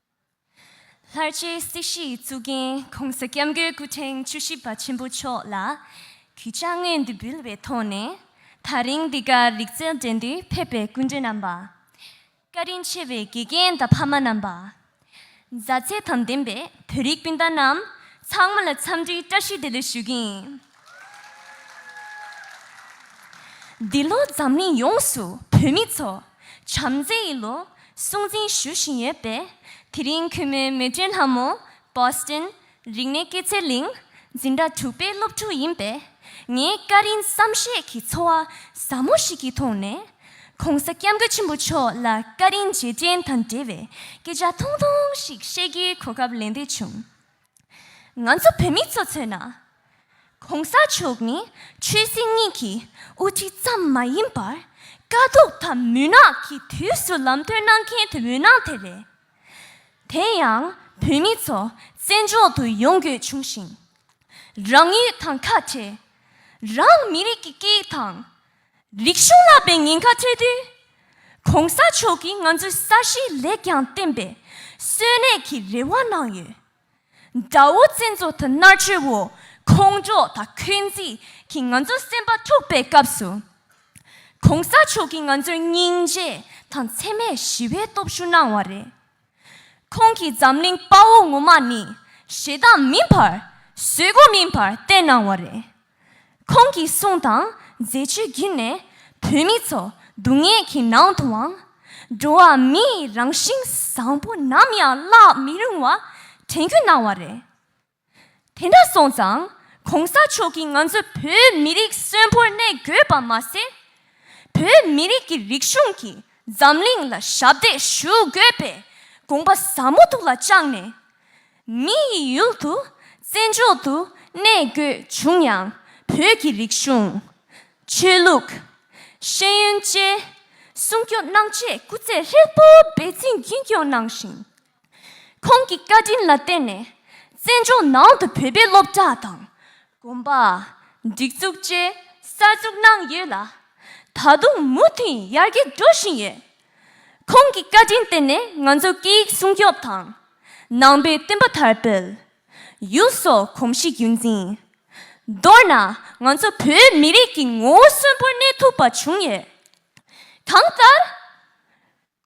Speaker 7: ལྷར་བཅས་སྲིད་ཞིའི་གཙུག་རྒྱན་གོང་ས་སྐྱབས་མགོན་སྐུ་ཕྲེང་བཅུ་བཞི་པ་ཆེན་པོ་མཆོག་ལ་གུས་ཕྱག་བསྔོས་འདི་འབུལ་བའི་ཐོག་ནས་ད་རིང་འདི་གར་རིག་རྩལ་འགྲན་བསྡུར་ཕེབས་པའི་སྐུ་མགྲོན་རྣམ་པ། བཀའ་དྲིན་ཆེ་བའི་དགེ་རྒན་དང་ཕ་མ་རྣམ་པ། མཛའ་བརྩེ་དང་ལྡན་པའི་བོད་རིགས་སྤུན་ཟླ་རྣམས་ཚང་མ་ལ་འཚམས་འདྲིའི་བཀྲ་ཤིས་བདེ་ལེགས་ཞུ་གིན། འདི་ལོ་འཛམ་གླིང་ཡོངས་སུ་བོད་མི་ཚོ་བྱམས་བརྩེ་ཡི་ལོ་སྲུང་འཛིན་ཞུ་བཞིན་ཡོད་པས་དེ་རིང་གུས་མོའི་མོས་སྤྲིན་ལྷ་མོ Boston རིག་གནས་སྐྱེད་ཚལ་གླིང་འཛིན་གྲྭ་དྲུག་པའི་སློབ་ཕྲུག་ཡིན་པས་ངའི་སྐད་རིང་བསམ་ཤེས་ཀྱི་ཚོར་བ་ཟབ་མོ་ཞིག་གིས་མཐོང་ནས ྋགོང་ས ྋསྐྱབས་མགོན་ཆེན་པོ་མཆོག་ལ་སྐད་རིང་རྗེས་དྲན་དང་འབྲེལ་བའི་སྐད་ཆ་ཐུང་ཐུང་ཞིག་བཤད་རྒྱུའི་གོ་སྐབས་ལེན་འདོད་བྱུང། ང་ཚོ་བོད་མི་ཚོ་མཚོན་ན། གོང་ས་མཆོག་ནི་ཆོས་སྲིད་གཉིས་ཀྱི་དབུ་ཁྲིད་ཙམ་མ་ཡིན་པར་དཀའ་སྡུག་དང་མུན་ནག་གི་དུས་སུ་ལམ་སྟོན་གནང་མཁན་དེ་འོད་སྣང་དེ་རེད། དེ་ཡང་བོད་མི་ཚོ་བཙན་འཕྱོག་ཏུ་ཡོང་དགོས་བྱུང་ཞིང། རང་ཡུལ་དང་ཁ་བྲལ། རང་མི་རིགས་ཀྱི་སྐད་ཡིག་དང། རིག་གཞུང་བསླབ་པའི་ཉེན་ཁ་ཐོས་དུས། གོང་ས་མཆོག་གིས་ང་ཚོའི་ས་གཞིའི་ལེགས་ཀྱང་བརྟེན་པའི་གསོན་གནས་ཀྱི་རེ་བ་གནང་ཡོད། དགྲ་བོ་བཙན་རྫོང་དང་མནར་གཅོད་འོག་ཁོང་ཁྲོ་དང་འཁོན་འཛིན་གྱིས་ང་ཚོ་སེམས་པ་འཁྲུགས་པའི་སྐབས་སུ། གོང་ས་མཆོག་གིས་ང་ཚོར་སྙིང་རྗེ་དང་འཚེ་མེད་ཞི་བའི་སྟོབས་ཤུགས་གནང་བ་རེད། ཁོང་གིས་འཛམ་གླིང་དཔའ་བོ་ངོ་མ་ནི་ཞེ་སྡང་མིན་པར་བཟོད་སྒོ་མིན་པར་བསྟེན་གནང་བ་རེད། ཁོང་གི་གསུང་དང་མཛད་སྤྱོད་བརྒྱུད་ནས་བོད་མི་ཚོ་སྡུག་བསྔལ་གྱི་ནང་དུའང་འགྲོ་བ་མིའི་རང་བཞིན་བཟང་པོ་ནམ་ཡང་བརླག་མི་རུང་བ་དྲན་སྐུལ་གནང་བ་རེད། དེ་འདྲ་སོང་ཙང་གོང་ས་མཆོག་གིས་ང་ཚོ་བོད་མི་རིགས་གསོན་པོར་གནས་དགོས་པ་མ་ཟད། བོད་མི་རིགས་ཀྱི་རིག་གཞུང་གིས་འཛམ་གླིང་ལ་ཞབས་འདེགས་ཞུ་དགོས་པའི་དགོངས་པ་ཟབ་མོ་ཐུགས་ལ་བཅངས་ནས། མི་ཡི་ཡུལ་དུ་བཙན་འཕྱོག་ཏུ་གནས་དགོས་བྱུང་ཡང་བོད་ཀྱི་རིག་གཞུང། ཆོས་ལུགས། ཤེས་ཡོན་བཅས་སྲུང་སྐྱོབ་གནང་ཆེད་སྐུ་ཚེ་ཧྲིལ་པོ་འབད་བརྩོན་རྒྱུན་སྐྱོང་གནང་ཞིང། ཁོང་གི་བཀའ་དྲིན་ལ་བརྟེན་ནས་བཙན་བྱོལ་ནང་དུ་བོད་པའི་སློབ་གྲྭ་དང། དགོན་པ། སྒྲིག་འཛུགས་བཅས་གསར་འཛུགས་གནང་ཡོད་ལ། ད་དུང་མུ་མཐུད་ཡར་རྒྱས་འགྲོ་བཞིན་ཡོད། ཁོང་གི་བཀའ་དྲིན་བརྟེན་ནས་ང་ཚོ་སྐད་ཡིག་སྲུང་སྐྱོབ་དང། ནང་པའི་བསྟན་པ་དར་སྤེལ། ཡུལ་སོགས་གོམས་གཤིས་རྒྱུན་འཛིན། མདོར་ན་ང་ཚོ་བོད་མི་རིགས་ཀྱི་ངོ་བོ་གསོན་པོར་གནས་ཐུབ་པ་བྱུང་ཡོད། གང་ལྟར།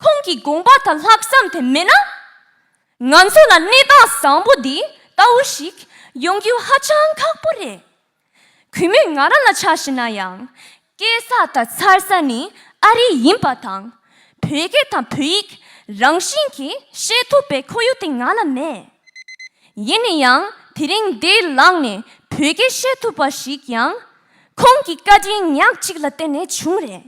Speaker 7: ཁོང་གི་དགོངས་པ་དང་ལྷག་བསམ་དེ་མེད་ན། ང་ཚོ་ལ་གནས་སྟངས་བཟང་པོ་འདི་ལྟ་བུ་ཞིག་ཡོང་རྒྱུ་ཧ་ཅང་ཁག་པོ་རེད། གུས་མོས་ང་རང་ལ་ཆགས་ཞེ་ན་ཡང། སྐྱེས་ས་དང་འཚར་ས་ནི་ཨ་རི་ཡིན་པ་དང། བོད་སྐད་དང་བོད་ཡིག་རང་བཞིན་གྱིས་བཤད་ཐུབ་པའི་ཁོར་ཡུག་དེ་ང་ལ་མེད། ཡིན་ན་ཡང་དེ་རིང་འདས་ལངས་ནས་བོད་སྐད་བཤད་ཐུབ་པ་ཞིག་ཡང། ཁོང་གི་བཀའ་དྲིན་ཉག་གཅིག་ལ་བརྟེན་ནས་བྱུང་རེད།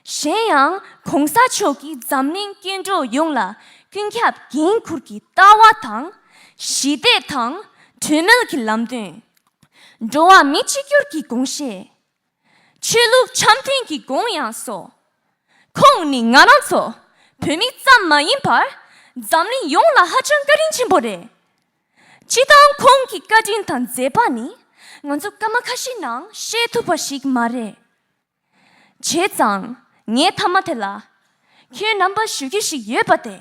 Speaker 7: གཞན་ཡང་གོང་ས་མཆོག་གིས་འཛམ་གླིང་སྐྱེ་འགྲོ་ཡོངས་ལ་ཀུན་ཁྱབ་འགན་ཁུར་གྱི་ལྟ་བ་དང། ཞི་བདེ་དང་གྲོས་མོལ་གྱི་ལམ་སྟོན། འགྲོ་བ་མི་གཅིག་གྱུར་གྱི་དགོངས་བཞེས། ཆོས་ལུགས་འཆམ་མཐུན་གྱི་དགོངས་དབྱངས་སོགས། ཁོང་ནི་ང་རང་ཚོ་བོད་མི་ཙམ་མ་ཡིན་པར་འཛམ་གླིང་ཡོངས་ལ་ཧ་ཅང་བཀའ་དྲིན་ཆེན་པོ་རེད། སྤྱི་བཏང་ཁོང་གི་བཀའ་དྲིན་དང་མཛད་པ་ནི་ང་ཚོ་སྐར་མ་ཁ་ཤས་ནང་བཤད་ཐུབ་པ་ཞིག་མ་རེད། བྱས་ཙང་ངའི་མཐའ་མ་དེ་ལ་ཁྱོད་རྣམ་པ་ཞུ་རྒྱུ་ཞིག་ཡོད་པ་དེ།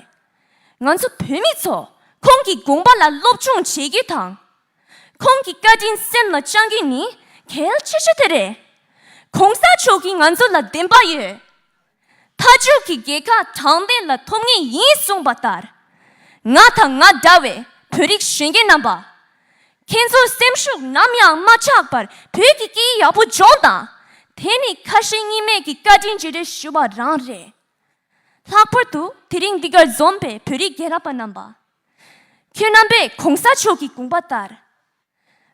Speaker 7: ང་ཚོ་བོད་མི་ཚོ་ཁོང་གི་དགོངས་པ་ལ་སློབ་སྦྱོང་བྱེད་རྒྱུ་དང། ཁོང་གི་བཀའ་དྲིན་སེམས་ལ་བཅང་རྒྱུ་ནི་གལ་ཆེ་ཤོས་དེ་རེད། གོང་ས་མཆོག་གིས་ང་ཚོ་ལ་བདེན་པ་ཡོད། མཐའ་མཇུག་གི་རྒྱལ་ཁ་དྲང་བདེན་ལ་ཐོབ་ངེས་ཡིན་གསུངས་པ་ལྟར། ང་དང་ང་འདྲ་བའི་བོད་རིགས་གཞོན་སྐྱེས་རྣམ་པ། ཁྱེད་ཚོའི་སེམས་ཤུགས་ནམ་ཡང་མ་ཆག་པར་བོད་ཀྱི་སྐད་ཡག་པོ་སྦྱོང་དང། དེ་ནི་ཁ་ཞེ་གཉིས་མེད་ཀྱི་བཀའ་དྲིན་བརྗེ་རེས་ཞུ་བ་རང་རེད། ལྷག་པར་དུ་དེ་རིང་འདི་གར་འཛོམས་པའི་བོད་རིགས་རྒན་རབས་པ་རྣམས་པ། ཁྱོད་རྣམ་པས་གོང་ས་མཆོག་གི་དགོངས་པ་ལྟར།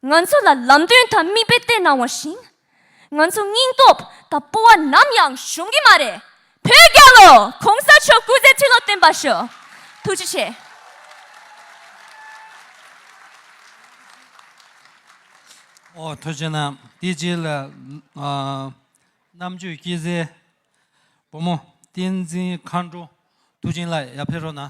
Speaker 7: ང་ཚོ་ལ་ལམ་སྟོན་དང་མིག་དཔེ་སྟེར་གནང་བ་བཞིན། ང་ཚོ་སྙིང་སྟོབས་དང་སྤོ་བ་ནམ་ཡང་གཞོམ་གི་མ་རེད་བོད་རྒྱལ་ལོ་གོང་ས་མཆོག་སྐུ་ཚེ་ཁྲི་ལོ་བརྟན་པ་ཞུ་ཐུགས་རྗེ་ཆེ། ཨོ་
Speaker 2: ཐུགས་རྗེ་གནང་དེ་རྗེས་ལ་རྣམ་དཔྱོད་སྐྱེད་ཚལ་བུ་མོ་བསྟན་འཛིན་མཁའ་འགྲོ་ཐུགས་ཆེན་ལགས་ཡར་ཕེབས་རོགས་གནང།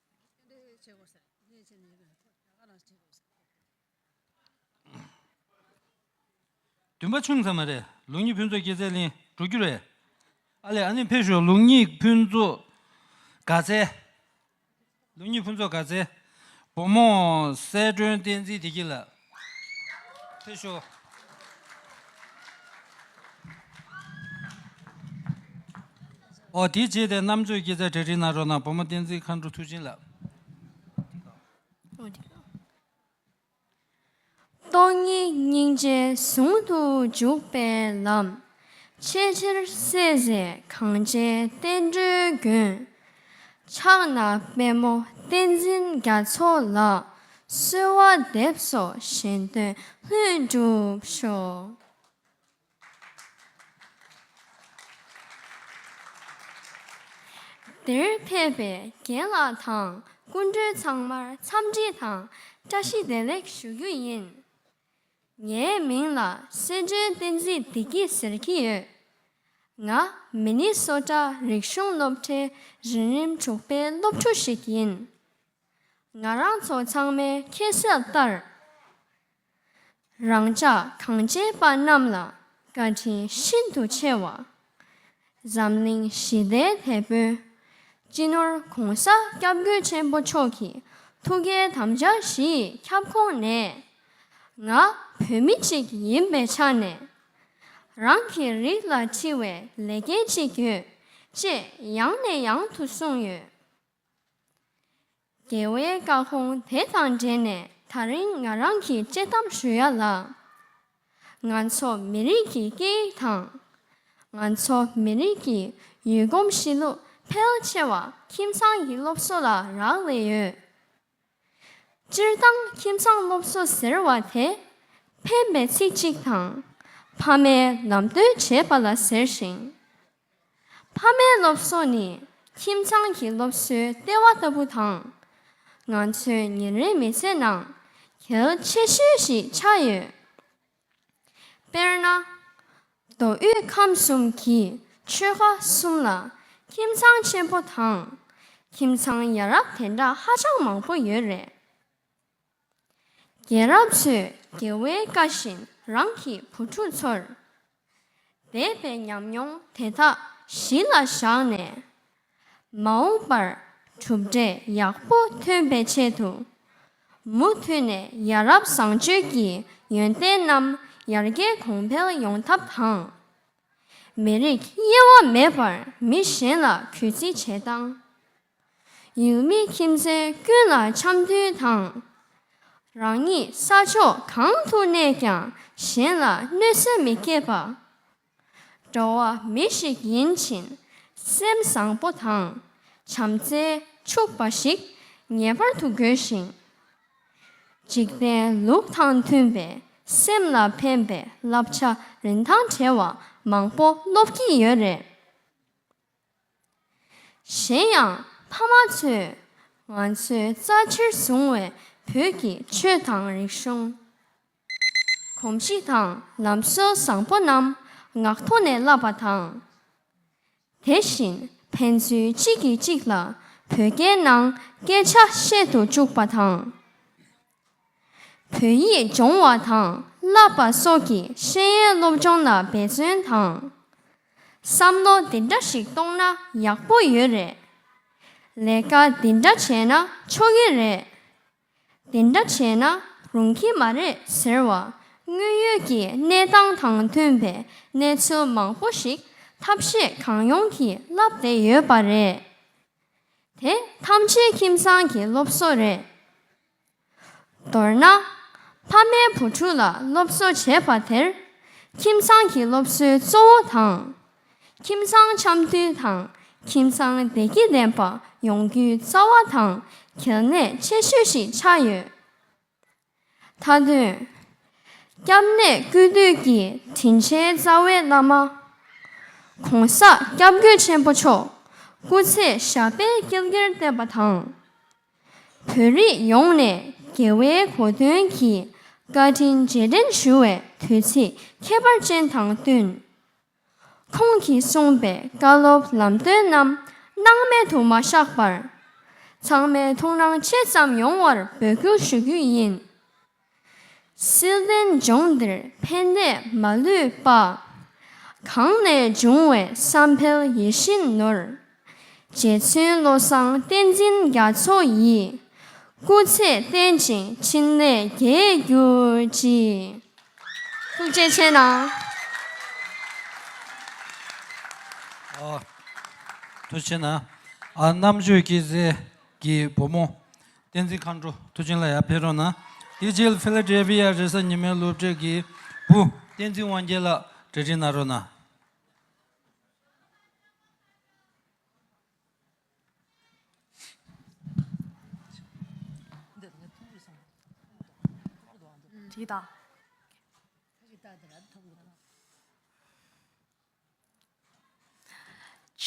Speaker 2: འདུན་པ་ཆུང་ཙམ་མ་རེད་ལུག་གཉིས་ཕུན་ཚོགས་སྐྱེད་ཚལ་གླིང་འགྲོ་རྒྱུ་རེད། ཨ་ལས་ཨ་ནེ་འཕེལ་ཞོར་ལུག་གཉིས་ཕུན་ཚོགས་དགའ་ཚལ། ལུག་གཉིས་ཕུན་ཚོགས་དགའ་ཚལ། བུ་མོ་གསལ་སྒྲོན་བསྟན་འཛིན་བདེ་སྐྱིད་ལགས། འཐུས་ཤོར། ཨོ་དེའི་རྗེས་དེ་རྣམ་དཔྱོད་སྐྱེད་ཚལ་གྲལ་རིག་ནང་རོགས་གནང་བུ་མོ་བསྟན་འཛིན་མཁའ་འགྲོ་ཐུགས་བྱིན་རླབས།
Speaker 1: སྟོང་ཉིད་སྙིང་རྗེ་ཟུང་དུ་འཇུག་པའི་ལམ། ཆེས་ཆེར་བསྲེས་བཟེད་གངས་ཅན་བསྟན་འགྲོའི་མགོན། ཕྱག་ན་པད་མོ་བསྟན་འཛིན་རྒྱ་མཚོ་ལགས། གསོལ་བ་འདེབས་སོ་གཞན་དོན་ལྷུན་གྲུབ་ཤོག། འདིར་ཕེབས་པའི་རྒན་ལགས་དང་སྐུ་མགྲོན་ཚང་མར་འཚམས་འདྲི་དང་བཀྲ་ཤིས་བདེ་ལེགས་ཞུ་རྒྱུ་ཡིན། ངའི་མིང་ལ་སྲིད་འབྱོན་བསྟན་འཛིན་བདེ་སྐྱིད་ཟེར་གྱི་ཡོད། ང་མི་ནི་སོ་ཀྲ་རིག་གཞུང་སློབ་གྲྭའི་རིན་རིམ་དྲུག་པའི་སློབ་ཕྲུག་ཞིག་ཡིན། ང་རང་ཚོ་ཚང་མའི་ཁྱད་གསབ་ལྟར་རང་ཅག་གངས་ཅན་པ་རྣམས་ལ་བཀའ་དྲིན་ཤིན་ཏུ་ཆེ་བ། འཛམ་གླིང་ཞི་བདེའི་དེད་དཔོན། སྤྱི་ནོར ྋགོང་ས ྋསྐྱབས་མགོན་ཆེན་པོ་མཆོག་གི་ཐུགས་ཀའི་དམ་བཅའ་བཞི་ཡི་ཁྱབ་ཁོངས་ནས། ང་བོད་མི་གཅིག་ཡིན་པའི་ཆ་ནས། རང་གི་རིགས་ལ་འཁྲི་བའི་ལས་འགན་ཅིག་ཡོད་ཅེས་ཡང་ནས་ཡང་དུ་གསུངས་ཡོད། རྒྱལ་བའི་བཀའ་དགོངས་དེ་དང་འབྲེལ་ནས་ད་རིང་ང་རང་གིས་དཔྱད་གཏམ་ཞུ་ཡ་ལ། ང་ཚོ་མི་རིགས་ཀྱི་སྐད་ཡིག་དང། ང་ཚོ་མི་རིགས་ཀྱི་ཡུལ་གོམས་གཤིས་ལུགས་ཕལ་ཆེ་བ་ཁྱིམ་ཚང་གི་སློབ་གསོ་ལ་རག་ལས་ཡོད། སྤྱིར་བཏང་ཁྱིམ་ཚང་སློབ་གསོ་ཟེར་བ་དེ་ཕན་པའི་ཚིག་ཅིག་དང་ཕ་མས་ལམ་སྟོན་བྱེད་པ་ལ་ཟེར་ཞིང། ཕ་མའི་སློབ་གསོ་ནི་ཁྱིམ་ཚང་གི་སློབ་གསོའི་ལྟེ་བ་ལྟ་བུ་དང། ང་ཚོའི་ཉིན་རེའི་མི་ཚེ་ནང་གལ་ཆེ་ཤོས་ཤིག་ཆགས་ཡོད། དཔེར་ན། མདོ་དབུས་ཁམས་གསུམ་གྱི་ཆོལ་ཁ་གསུམ་ལ་ཁྱིམ་ཚང་ཆེན་པོ་དང་ཁྱིམ་ཚང་ཡ་རབས་དེ་འདྲ་ཧ་ཅང་མང་པོ་ཡོད་རེད། རྒན་རབས་ཚོས་རྒྱལ་བའི་བཀའ་བཞིན་རང་གི་བུ་ཕྲུག་ཚོར། འདས་པའི་ཉམས་མྱོང་དེ་དག་གཞི་ལ་བཞག་ནས། མ་འོངས་པར་གྲུབ་འབྲས་ཡག་པོ་ཐོན་པའི་ཆེད་དུ། མུ་མཐུད་ནས་ཡ་རབས་བཟང་སྤྱོད་ཀྱི་ཡོན་ཏན་རྣམས་ཡར་རྒྱས་གོང་འཕེལ་ཡོང་ཐབས་དང། མི་རིགས་དབྱེ་བ་མེད་པར་མི་གཞན་ལ་གུས་བརྩི་བྱེད་སྟངས། ཡུལ་མི་ཁྱིམ་མཚེས་ཀུན་ལ་འཆམ་མཐུན་དང། རང་ཉིད་ས་ཕྱོགས་གང་དུ་གནས་ཀྱང་གཞན་ལ་གནོད་སེམས་མི་སྐྱེད་པ། འགྲོ་བ་མི་ཞིག་ཡིན་ཕྱིན་སེམས་བཟང་པོ་དང་བྱམས་བརྩེ་ཕྱུག་པ་ཞིག་ངེས་པར་དུ་དགོས་ཤིང། འཇིག་རྟེན་ལུགས་དང་མཐུན་པའི་སེམས་ལ་ཕན་པའི་བསླབ་བྱ་རིན་ཐང་བྲལ་བ་མང་པོ་སློབ་ཀྱི་ཡོད་རེད། གཞན་ཡང་ཕ་མ་ཚོས་ང་ཚོའི་རྩ་ཆེར་བཟུང་བའི་བོད་ཀྱི་ཆོས་དང་རིག་གཞུང། གོམས་གཤིས་དང་ལམ་སྲོལ་བཟང་པོ་རྣམས་ངག་ཐོག་ནས་བསླབས་པ་དང། དེ་བཞིན་ཕན་ཚུན་གཅིག་གིས་གཅིག་ལ་བོད་སྐད་ནང་སྐད་ཆ་བཤད་དུ་བཅུག་པ་དང། བོད་ཡིག་སྦྱོང་བ་དང་བསླབ་པ་སོགས་ཀྱི་ཤེས་ཡོན་སློབ་སྦྱོང་ལ་འབད་བརྩོན་དང། བསམ་བློ་འདི་འདྲ་ཞིག་གཏོང་ན་ཡག་པོ་ཡོད་རེད། ལས་ཀ་འདི་འདྲ་བྱས་ན་ཆོག་གི་རེད། འདི་འདྲ་བྱས་ན་རུང་གི་མ་རེད་ཟེར་བ་དངོས་ཡོད་ཀྱི་གནས་སྟངས་དང་མཐུན་པའི་གནས་ཚུལ་མང་པོ་ཞིག་ཐབས་ཤེས་གང་ཡོང་གིས་བསླབས་བསྡད་ཡོད་པ་རེད། དེ་ཐམས་ཅད་ཁྱིམ་ཚང་གི་སློབ་གསོ་རེད། མདོར་ན། ཕ་མས་བུ་ཕྲུག་ལ་སློབ་གསོ་བྱེད་པ་དེར་ཁྱིམ་ཚང་གི་སློབ་གསོའི་གཙོ་བོ་དང། ཁྱིམ་ཚང་འཆམ་མཐུན་དང་ཁྱིམ་ཚང་བདེ་སྐྱིད་ལྡན་པ་ཡོང་རྒྱུའི་རྩ་བ་དང་གལ་གནད་ཆེ་ཤོས་ཤིག་ཆགས་ཡོད། མཐའ་དོན། སྐྱབས་གནས་ཀུན་འདུས་ཀྱི་དྲིན་ཆེན་རྩ་བའི་བླ་མ། གོང་ས་སྐྱབས་མགོན་ཆེན་པོ་མཆོག་སྐུ་ཚེ་ཞབས་པད་བསྐལ་བརྒྱར་བརྟན་པ་དང། བོད་རིགས་ཡོངས་ནས་དགེ་བའི་གོ་དོན་གྱིས་བཀའ་དྲིན་རྗེས་དྲན་ཞུ་བའི་དུས་ཚིགས་ཁྱད་པར་ཅན་དང་བསྟུན། ཁོང་གིས་གསུངས་པའི་བཀའ་སློབ་ལམ་སྟོན་རྣམས་སྣང་མེད་དུ་མ་བཞག་པར། ཚང་མས་ཐུགས་སྣང་ཆེ་ཙམ་ཡོང་བར་འབོད་སྐུལ་ཞུ་རྒྱུ་ཡིན། སྲིད་བློན་ལྗོངས་འདིར་ཕན་བདེ་མ་ལུས་པ། གང་ནས་འབྱུང་བའི་བསམ་འཕེལ་ཡིད་བཞིན་ནོར། རྗེ་བཙུན་བློ་བཟང་བསྟན་འཛིན་རྒྱ་མཚོ་ཡིས་སྐུ་ཚེ་བརྟན་ཅིང་ཕྲིན་ལས་རྒྱས་གྱུར་ཅིག། ཐུགས་རྗེ་ཆེ་གནང།
Speaker 2: ཐུགས་ཆེ་གནང། རྣམ་དཔྱོད་སྐྱེད་ཚལ་གྱི་བུ་མོ། བསྟན་འཛིན་མཁའ་འགྲོ་ཐུགས་ཆེན་ལ་ཡར་འཕེལ་རོགས་གནང། དེ་རྗེས Philadelphia རེ་ས་ཉི་མའི་སློབ་གྲྭའི་སྐྱེས་བུ་བསྟན་འཛིན་དབང་རྒྱལ་ལགས་གྲལ་འགྲིག་གནང་རོགས་གནང།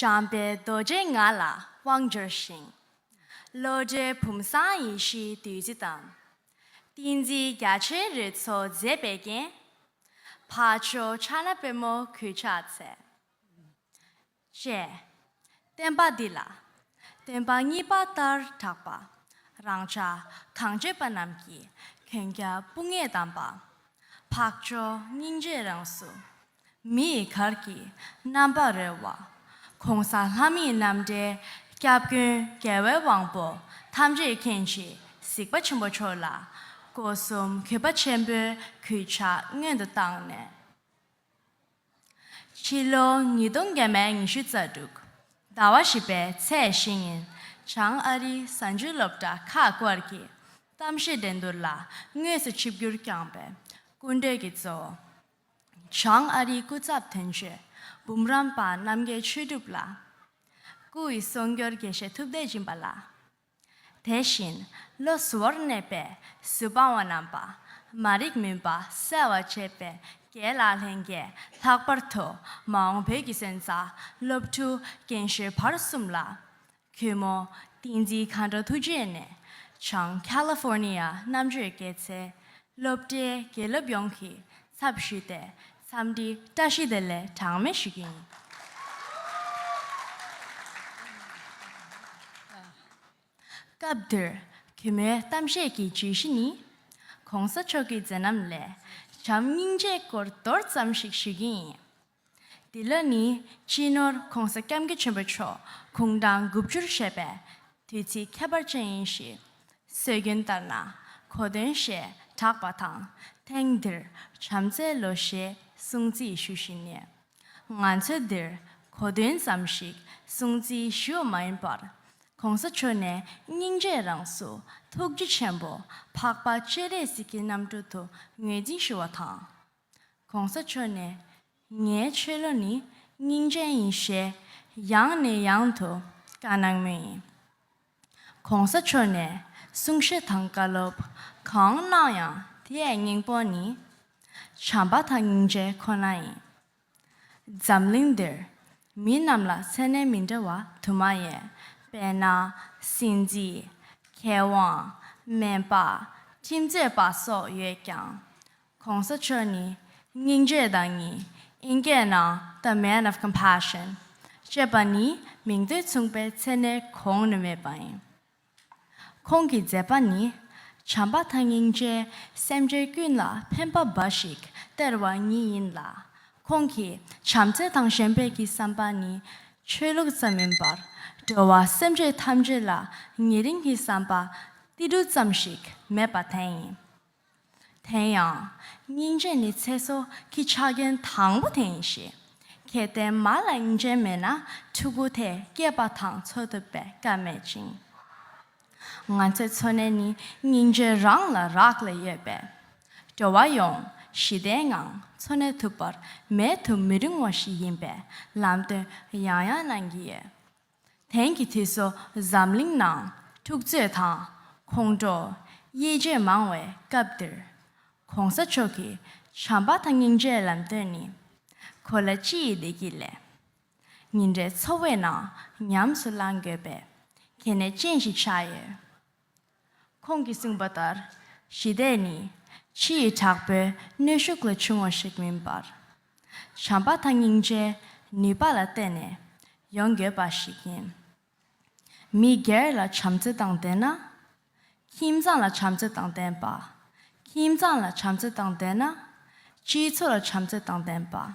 Speaker 7: བྱམས་པའི་རྡོ་རྗེས་ང་ལ་དབང་བསྒྱུར་ཞིང། བློ་གྲོས་བུམ་བཟང་ཡེ་ཤེས་བདུད་རྩི་དང། ཏིང་འཛིན་རྒྱ་ཆེན་རོལ་མཚོ་མཛེས་པའི་རྒྱན། ཕ་ཆོས་ཕྱག་ན་པད་མོ་གུས་ཕྱག་འཚལ། ཅེས། བསྟན་པ་འདི་ལ། སྟོན་པ་གཉིས་པ་ལྟར་གྲགས་པ། རང་ཅག་གང་བྱེད་པ་རྣམས་ཀྱི་གན་རྒྱ་སྤུ་ངས་བསྡམས་པ། འཕགས་མཆོག་སྙིང་རྗེའི་རང་གཟུགས། མི་ཡི་གར་གྱིས་རྣམ་པར་རོལ་བ། ྋགོང་ས་ལྷ་མིའི་རྣམ་འདྲེན་སྐྱབས་མགོན་རྒྱལ་བའི་དབང་པོ་ཐམས་ཅད་མཁྱེན་གྱིས་གཟིགས་པ་ཆེན་པོ་མཆོག་ལ་སྒོ་གསུམ་གུས་པ་ཆེན་པོའི་གུས་ཕྱག་སྔོན་དུ་བཏང་ནས། ཕྱི་ལོ་ཉིས་སྟོང་བརྒྱད་མའི་ཉི་ཤུ་རྩ་དྲུག་ཟླ་བ་བཞི་པའི་ཚེས་བཞི་ཉིན་བྱང་ཨ་རིའི་གཟའ་མཇུག་སློབ་གྲྭ་ཁག་སྐོར་གྱི་གཏམ་བཤད་འགྲན་བསྡུར་ལ་དངོས་སུ་ཆིབས་བསྒྱུར་བསྐྱངས་པའི་སྐུ་མགྲོན་གྱི་གཙོ་བོ། བྱང་ཨ་རིའི་སྐུ་ཚབ་དོན་གཅོད་འབུམ་རམས་པ་རྣམ་རྒྱལ་ཆོས་གྲུབ་ལགས། སྐུ་ཡི་གསུང་སྐྱོར་དགེ་བཤེས་ཐུབ་བསྟན་སྦྱིན་པ་ལགས། དེ་བཞིན་བློ་གཟུ་བོར་གནས་པའི་གཟུ་དཔང་བ་རྣམས་པདྨ་རིགས་མུན་པ་སེལ་བར་བྱེད་པའི་དགེ་ལགས་ལྷན་རྒྱས་ལྷག་པར་དུ་མ་འོངས་བོད་ཀྱི་སོན་རྩ་སློབ་ཕྲུག་རྒན་གཞོན་བར་གསུམ་ལ་གུས་མོ། ཏིང་འཛིན་གང་འདྲ་ཐུགས་རྗེ་ནས། བྱང California རྣམ་དཔྱོད་སྐྱེད་ཚལ། སློབ་གྲྭའི་དགེ་སློབ་ཡོངས་ཀྱི་ཚབ་ཞུས་ཏེ་འཚམས་འདྲི་བཀྲ་ཤིས་བདེ་ལེགས་གྲངས་མེད་ཞུ་རྒྱུ་ཡིན། སྐབས་འདིར་གུས་མོའི་གཏམ་བཤད་ཀྱི་བརྗོད་གཞི་ནི། གོང་ས་མཆོག་གི་མཛད་རྣམ་ལས་བྱམས་སྙིང་རྗེའི་སྐོར་མདོར་ཙམ་ཞིག་ཞུ་རྒྱུ་ཡིན། འདི་ལ་ནི་སྤྱི་ནོར་གོང་ས་སྐྱབས་མཁས་ཆེན་པོ་མཆོག་གུང་ཐང་དགུ་བཅུར་བཞེད་པས་དུས་ཚིགས་ཁྱད་པར་ཅན་ཡིན་ཞེས། སྲོལ་རྒྱུན་ལྟར་ན་གོ་སྟོན་ཞེས་གྲགས་པ་དང་ཐེངས་འདིར་བྱམས་བརྩེའི་ལོ་ཞེས་སྲུང་བརྩི་ཞུ་བཞིན་ནས། ང་ཚོས་འདིར་གོ་སྟོན་ཙམ་ཞིག་སྲུང་བརྩི་ཞུ་བ་མ་ཡིན་པར། གོང་ས་མཆོག་ནས་སྙིང་རྗེའི་རང་གཟུགས་ཐུགས་རྗེ་ཆེན་པོ་འཕགས་པ་སྤྱན་རས་གཟིགས་ཀྱི་རྣམ་སྤྲུལ་དུ་ངོས་འཛིན་ཞུ་བ་དང། གོང་ས་མཆོག་ནས་ངའི་ཆོས་ལོ་ནི་སྙིང་ཅན་ཡིན་ཞེས་ཡང་ནས་ཡང་དུ་བཀའ་གནང་མུས་ཡིན། གོང་ས་མཆོག་ནས་གསུང་བཤད་དང་བཀའ་སློབ་གང་གནང་ཡང་དེའི་སྙིང་སྤོང་ནི་བྱམས་པ་དང་སྙིང་རྗེ་ཁོ་ན་ཡིན། འཛམ་གླིང་འདིར་མི་རྣམས་ལ་མཚན་གནས་མི་འདྲ་བ་དུ་མ་ཡོད་པས་ན་སྲིད་འཛིན། མཁས་དབང། སྨན་པ། ཁྲིམས་རྩོད་པ་སོགས་ཡོད་ཀྱང། གོང་ས་མཆོག་ནི་སྙིང་རྗེ་དང་གཉིས་དབྱིན་སྐད་ནང The Man of Compassion ཅེས་པ་ནི་མིང་དོན་མཚུངས་པའི་མཚན་གནས་གོང་ནས་མེད་པ་ཡིན། ཁོང་གི་མཛད་པ་ནི་བྱམས་པ་དང་སྙིང་རྗེ་སེམས་ཅན་ཀུན་ལ་ཕན་པ་འབའ་ཞིག་སྟེར་བ་ཉིད་ཡིན་ལ། ཁོང་གི་བྱམས་བརྩེ་དང་གཞན་པའི་གི་བསམ་པ་ནི་ཆོས་ལུགས་ཙམ་མིན་པར་འགྲོ་བ་སེམས་ཅན་ཐམས་ཅད་ལ་ཉེ་རིང་གི་བསམ་པ་ཏིལ་འབྲུ་ཙམ་ཞིག་མེད་པ་དེ་ཡིན། དེ་ཡང། སྙིང་རྗེ་ནི་ཚེ་སྲོག་གི་ཆ་རྐྱེན་དང་པོ་དེ་ཡིན་ཞིང། གལ་
Speaker 8: ཏེ་མ་ལ་སྙིང་རྗེ་མེད་ན་ཕྲུ་གུ་དེ་སྐྱེས་པ་དང་འཚོ་ཐུབ་པའི་སྐལ་མེད་ཅིང། ང་ཚོའི་འཚོ་གནས་ནི་སྙིང་རྗེ་རང་ལ་རག་ལས་ཡོད་པས། འགྲོ་བ་ཡོངས་ཞི་བདེའི་ངང་འཚོ་གནས་ཐུབ་པར་མེད་དུ་མི་རིང་བ་ཞིག་ཡིན་པའི་ལམ་སྟོན་ཡང་ཡང་གནང་གི་ཡོད། དེང་གི་དུས་སུ་འཛམ་གླིང་ནང་འཁྲུག་རྩོད་དང་ཁོང་ཁྲོ། དབྱེ་འབྱེད་མང་བའི་སྐབས་འདིར། གོང་ས་མཆོག་གིས་བྱམས་པ་དང་སྙིང་རྗེའི་ལམ་སྟོན་ནི། གོ་ལ་སྤྱི་ཡི་བདེ་སྐྱིད་ལས། ཉིན་རེའི་འཚོ་བའི་ནང་ཉམས་སུ་བླང་དགོས་པའི་གལ་གནད་ཅན་ཞིག་ཆགས་ཡོད། ཁོང་གིས་གསུངས་པ་ལྟར་ཞི་བདེ་ནི་ཕྱི་ཡི་དྲག་པོའི་གནོད་ཤུགས་ལས་བྱུང་བ་ཞིག་མིན་པར། བྱམས་པ་དང་སྙིང་རྗེའི་ནུས་པ་ལ་བརྟེན་ནས་ཡོང་དགོས་པ་ཞིག་ཡིན། མི་སྒེར་ལ་བྱམས་བརྩེ་དང་ལྡན་ན། ཁྱིམ་ཚང་ལ་བྱམས་བརྩེ་དང་ལྡན་པ། ཁྱིམ་ཚང་ལ་བྱམས་བརྩེ་དང་ལྡན་ན། སྤྱི་ཚོགས་ལ་བྱམས་བརྩེ་དང་ལྡན་པ།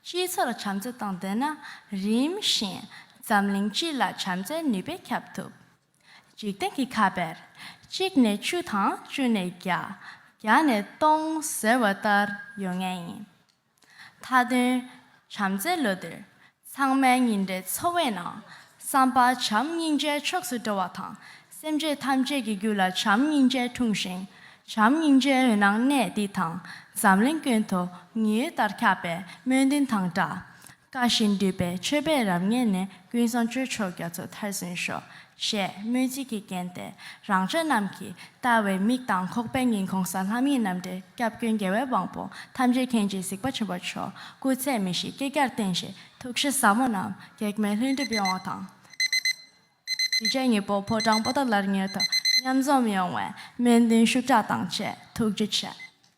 Speaker 8: སྤྱི་ཚོགས་ལ་བྱམས་བརྩེ་དང་ལྡན་ན་རིམ་བཞིན་འཛམ་གླིང་སྤྱི་ལ་བྱམས་བརྩེའི་ནུས་པས་ཁྱབ་ཐུབ། འཇིག་རྟེན་གྱི་ཁ་བས་གཅིག་ནས་བཅུ་དང་བཅུ་ནས་བརྒྱ་བརྒྱ་ནས་སྟོང་ཟེར་བ་ལྟར་ཡོད་ངེས་ཡིན། མཐའ་དོན་བྱམས་བརྩེའི་ལོ་འདིར་ཚང་མའི་ཉིན་རེའི་འཚོ་བའི་ནང་བསམ་པ་བྱམས་སྙིང་རྗེའི་ཕྱོགས་སུ་འགྲོ་བ་དང་སེམས་ཅད་ཐམས་ཅད་ཀྱི་རྒྱུད་ལ་བྱམས་སྙིང་རྗེ་འཁྲུངས་ཤིང་བྱམས་སྙིང་རྗེའི་འོད་སྣང་གནས་འདི་དང་འཛམ་གླིང་ཀུན་ཏུ་ཉི་འོད་ལྟར་ཁྱབ་པའི་སྨོན་འདུན་དང་སྦྲགས། བཀའ་བཞིན་འདུས་པའི་མཆོད་པས་རབ་མཉེས་ནས་ཀུན་བཟང་ཆོས་མཆོག་རྒྱ་མཚོ་མཐར་སོན་ཤོག། ཞེས་སྨོན་ཚིག་གིས་བརྒྱན་ཏེ་རང་ཅག་རྣམས་ཀྱིས་བལྟ་བའི་མིག་དང་ཁོག་པའི་ཉིན་གོང་ས་ལྷ་མིའི་རྣམ་འདྲེན་སྐྱབས་མགོན་རྒྱལ་བའི་དབང་པོ་ཐམས་ཅད་མཁྱེན་བརྗིད་གཟིགས་པ་ཆེན་པོ་མཆོག་སྐུ་ཚད་མེད་བཞི་བསྐལ་བརྒྱར་བརྟན་ཞིང་ཐུགས་གཤིས་ཟབ་མོ་རྣམས་གེགས་མེད་ལྷུན་གྲུབ་ཡོང་བ་དང། གཞིས་བྱེས་གཉིས་པོ་ཕོ་བྲང་པོ་ཏཱ་ལར་མྱུར་དུ་མཉམ་འཛོམས་ཡོང་བའི་སྨོན་འདུན་ཤུགས་དྲག་དང་བཅས་ཐུགས་རྗེ་ཆེ།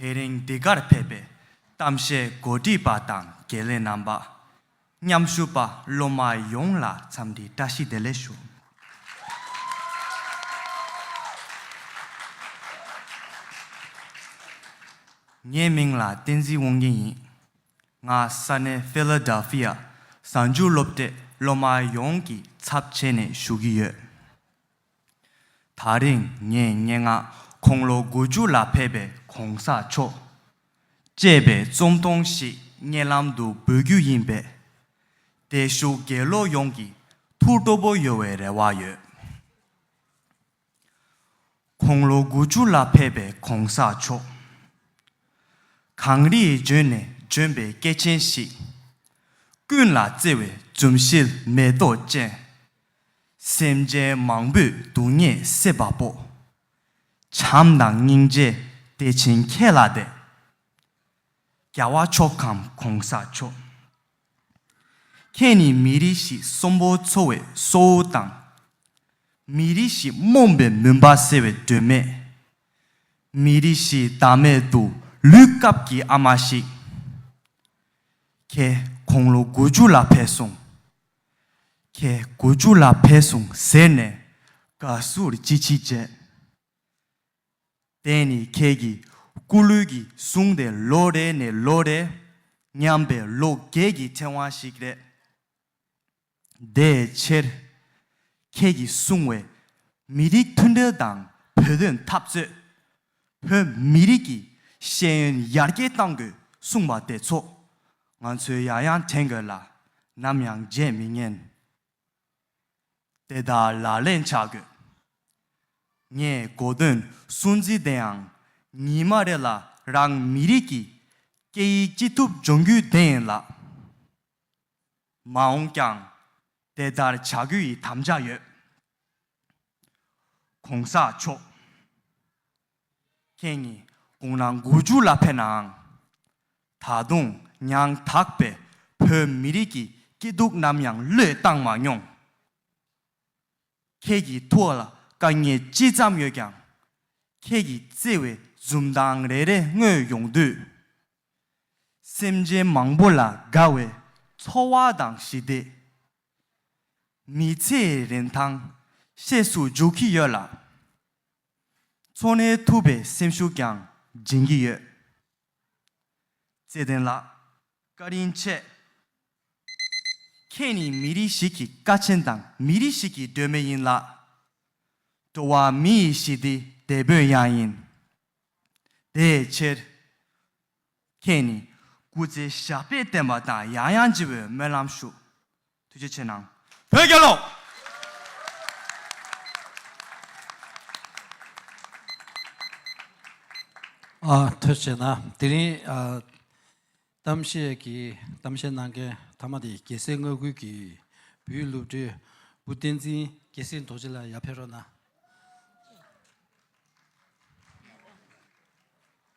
Speaker 9: དེ་རིང་འདི་གར་ཕེབས་པའི་གཏམ་བཤད་གོ་སྒྲིག་པ་དང་དགེ་ལས་རྣམ་པ། མཉམ་ཞུགས་པ་སློབ་མ་ཡོངས་ལ་འཚམས་འདྲིའི་བཀྲ་ཤིས་བདེ་ལེགས་ཞུ། ངའི་མིང་ལ་བསྟན་འཛིན་དབང་རྒྱལ་ཡིན། ང་ས་གནས Philadelphia གསར་འགྱུར་སློབ་གྲྭའི་སློབ་མ་ཡོངས་ཀྱི་ཚབ་བྱས་ནས་ཞུ་གི་ཡོད། ད་རིང་ངས་སྙན་ངག་ཁོང་ལོ་དགུ་བཅུ་ལ་ཕེབས་པའི་གོང་ས་མཆོག། ཅེས་པའི་རྩོམ་ཐུང་ཞིག་སྙན་ལམ་དུ་འབུལ་རྒྱུ་ཡིན་པས། བདེ་ཞུགས་དགེ་སློབ་ཡོངས་ཀྱི་ཐུགས་སྤྲོ་པོ་ཡོད་བའི་རེ་བ་ཡོད། ཁོང་ལོ་དགུ་བཅུ་ལ་ཕེབས་པའི་གོང་ས་མཆོག། གངས་རིའི་ལྗོན་ནས་ལྗོན་པའི་སྐྱེས་ཆེན་ཞིག། ཀུན་ལ་བརྩེ་བའི་འཛུམ་ཞལ་མེ་ཏོག་ཅན། སེམས་ཅན་མང་པོས་སྡུག་བསྔལ་སེལ་བ་པོ། བྱམས་དང་སྙིང་རྗེ་བདེ་ཆེན་ཁྱེད་ལ་དད། རྒྱལ་བ་མཆོག་གམ་གོང་ས་མཆོག། ཁྱེད་ནི་མི་རིགས་ཤིག་གསོན་པོ་འཚོ་བའི་སྲོག་དབུགས་དང། མི་རིགས་ཤིག་རྨོངས་པའི་མུན་པ་སེལ་བའི་སྒྲོན་མེ། མི་རིགས་ཤིག་བདག་མེད་དུ་ལུས་སྐབས་ཀྱི་ཨ་མ་ཞིག། ཁྱེད་དགུང་ལོ་དགུ་བཅུ་ལ་བས་སོང། ཁྱེད་དགུ་བཅུ་ལ་ཕེབས་སོང་ཟེར་ནས་དགའ་བསུར་ཅི་མཆིས་བྱས། དེ་ནི་ཁྱེད་ཀྱི་སྐུ་ལུས་ཀྱི་གསུང་དེ་ལོ་རེ་ནས་ལོ་རེ་ཉམས་པའི་ལོ་རྒས་ཀྱི་ཕྲེང་བ་ཞིག་རེད། དེའི་ཕྱིར། ཁྱེད་ཀྱིས་གསུང་བའི་མི་རིགས་མཐུན་སྒྲིལ་དང་བོད་དོན་འཐབ་རྩོད། བོད་མི་རིགས་ཀྱི་ཤེས་ཡོན་ཡར་རྒྱས་གཏང་དགོས་གསུངས་པ་དེ་ཚོ་ང་ཚོས་ཡང་ཡང་དྲན་དགོས་ལ་ནམ་ཡང་བརྗེད་མི་ཉན། དེ་དག་ལག་ལེན་བྱ་དགོས། ངས་གོ་དོན་སུན་འབྱིན་དེའང་ཉིན་མ་རེ་ལ་རང་མི་རིགས་ཀྱི་སྐད་ཡིག་ཅི་ཐུབ་སྦྱོང་རྒྱུའི་དེ་ཡིན་ལགས། མ་འོངས་ཀྱང་དེ་ལྟར་བྱ་དགོས་ཡི་དམ་བཅའ་ཡོད། ྋགོང་ས་མཆོག ྋཁྱེད་ཉིད་དགུང་ལོ་དགུ་བཅུ་ལ་ཕེབས་ནའང། ད་དུང་ཡང་དག་པའི་བོད་མི་རིགས་ཀྱི་སྐྱིད་སྡུག་ནམ་ཡང་བློས་བཏང་མ་མྱོང། ཁྱེད་ཀྱི་ཐུགས་ལ་དཀའ་ངལ་ཅི་ཙམ་ཡོད་ཀྱང། ཁྱེད་ཀྱི་བརྩེ་བའི་འཛུམ་མདངས་རེ་རེ་མངོན་ཡོང་དུས། སེམས་ཅན་མང་པོ་ལ་དགའ་བའི་འཚོ་བ་དང་ཞི་བདེ། མི་ཚེའི་རིན་ཐང་ཤེས་སུ་འཇུག་གི་ཡོད་ལ། འཚོ་གནས་ཐུབ་པའི་སེམས་ཤུགས་ཀྱང་སྦྱིན་གྱི་ཡོད། བརྩེ་ལྡན་ལགས། བཀའ་དྲིན་ཆེ། ཁྱེད་ནི་མི་རིགས་ཤིག་གི་དཀའ་ཆེན་དང་མི་རིགས་ཤིག་གི་སྒྲོན་མེ་ཡིན་ལགས། འགྲོ་བ་མི་ཡི་ཞི་བདེའི་དེད་དཔོན་ཡང་ཡིན། དེའི་ཕྱིར། ཁྱེད་ནི་སྐུ་ཚེ་ཞབས་པད་བརྟན་པ་དང་ཡང་ཡང་བརྗེ་བའི་སྨོན་ལམ་ཞུ། ཐུགས་རྗེ་ཆེ་གནང། བོད་རྒྱལ་ལོ།
Speaker 2: ཐུགས་རྗེ་ན་དེ་རིང་གཏམ་བཤད་ཀྱི་གཏམ་བཤད་གནང་མཁན་མཐའ་མ་དེ་རྒྱལ་སྲས་མངའ་ཁུལ་གྱི་བུའི་སློབ་གྲྭའི་བུ་བསྟན་འཛིན་རྒྱལ་སྲས་རྡོ་རྗེ་ལ་ཡར་ཕེབས་རོགས་གནང།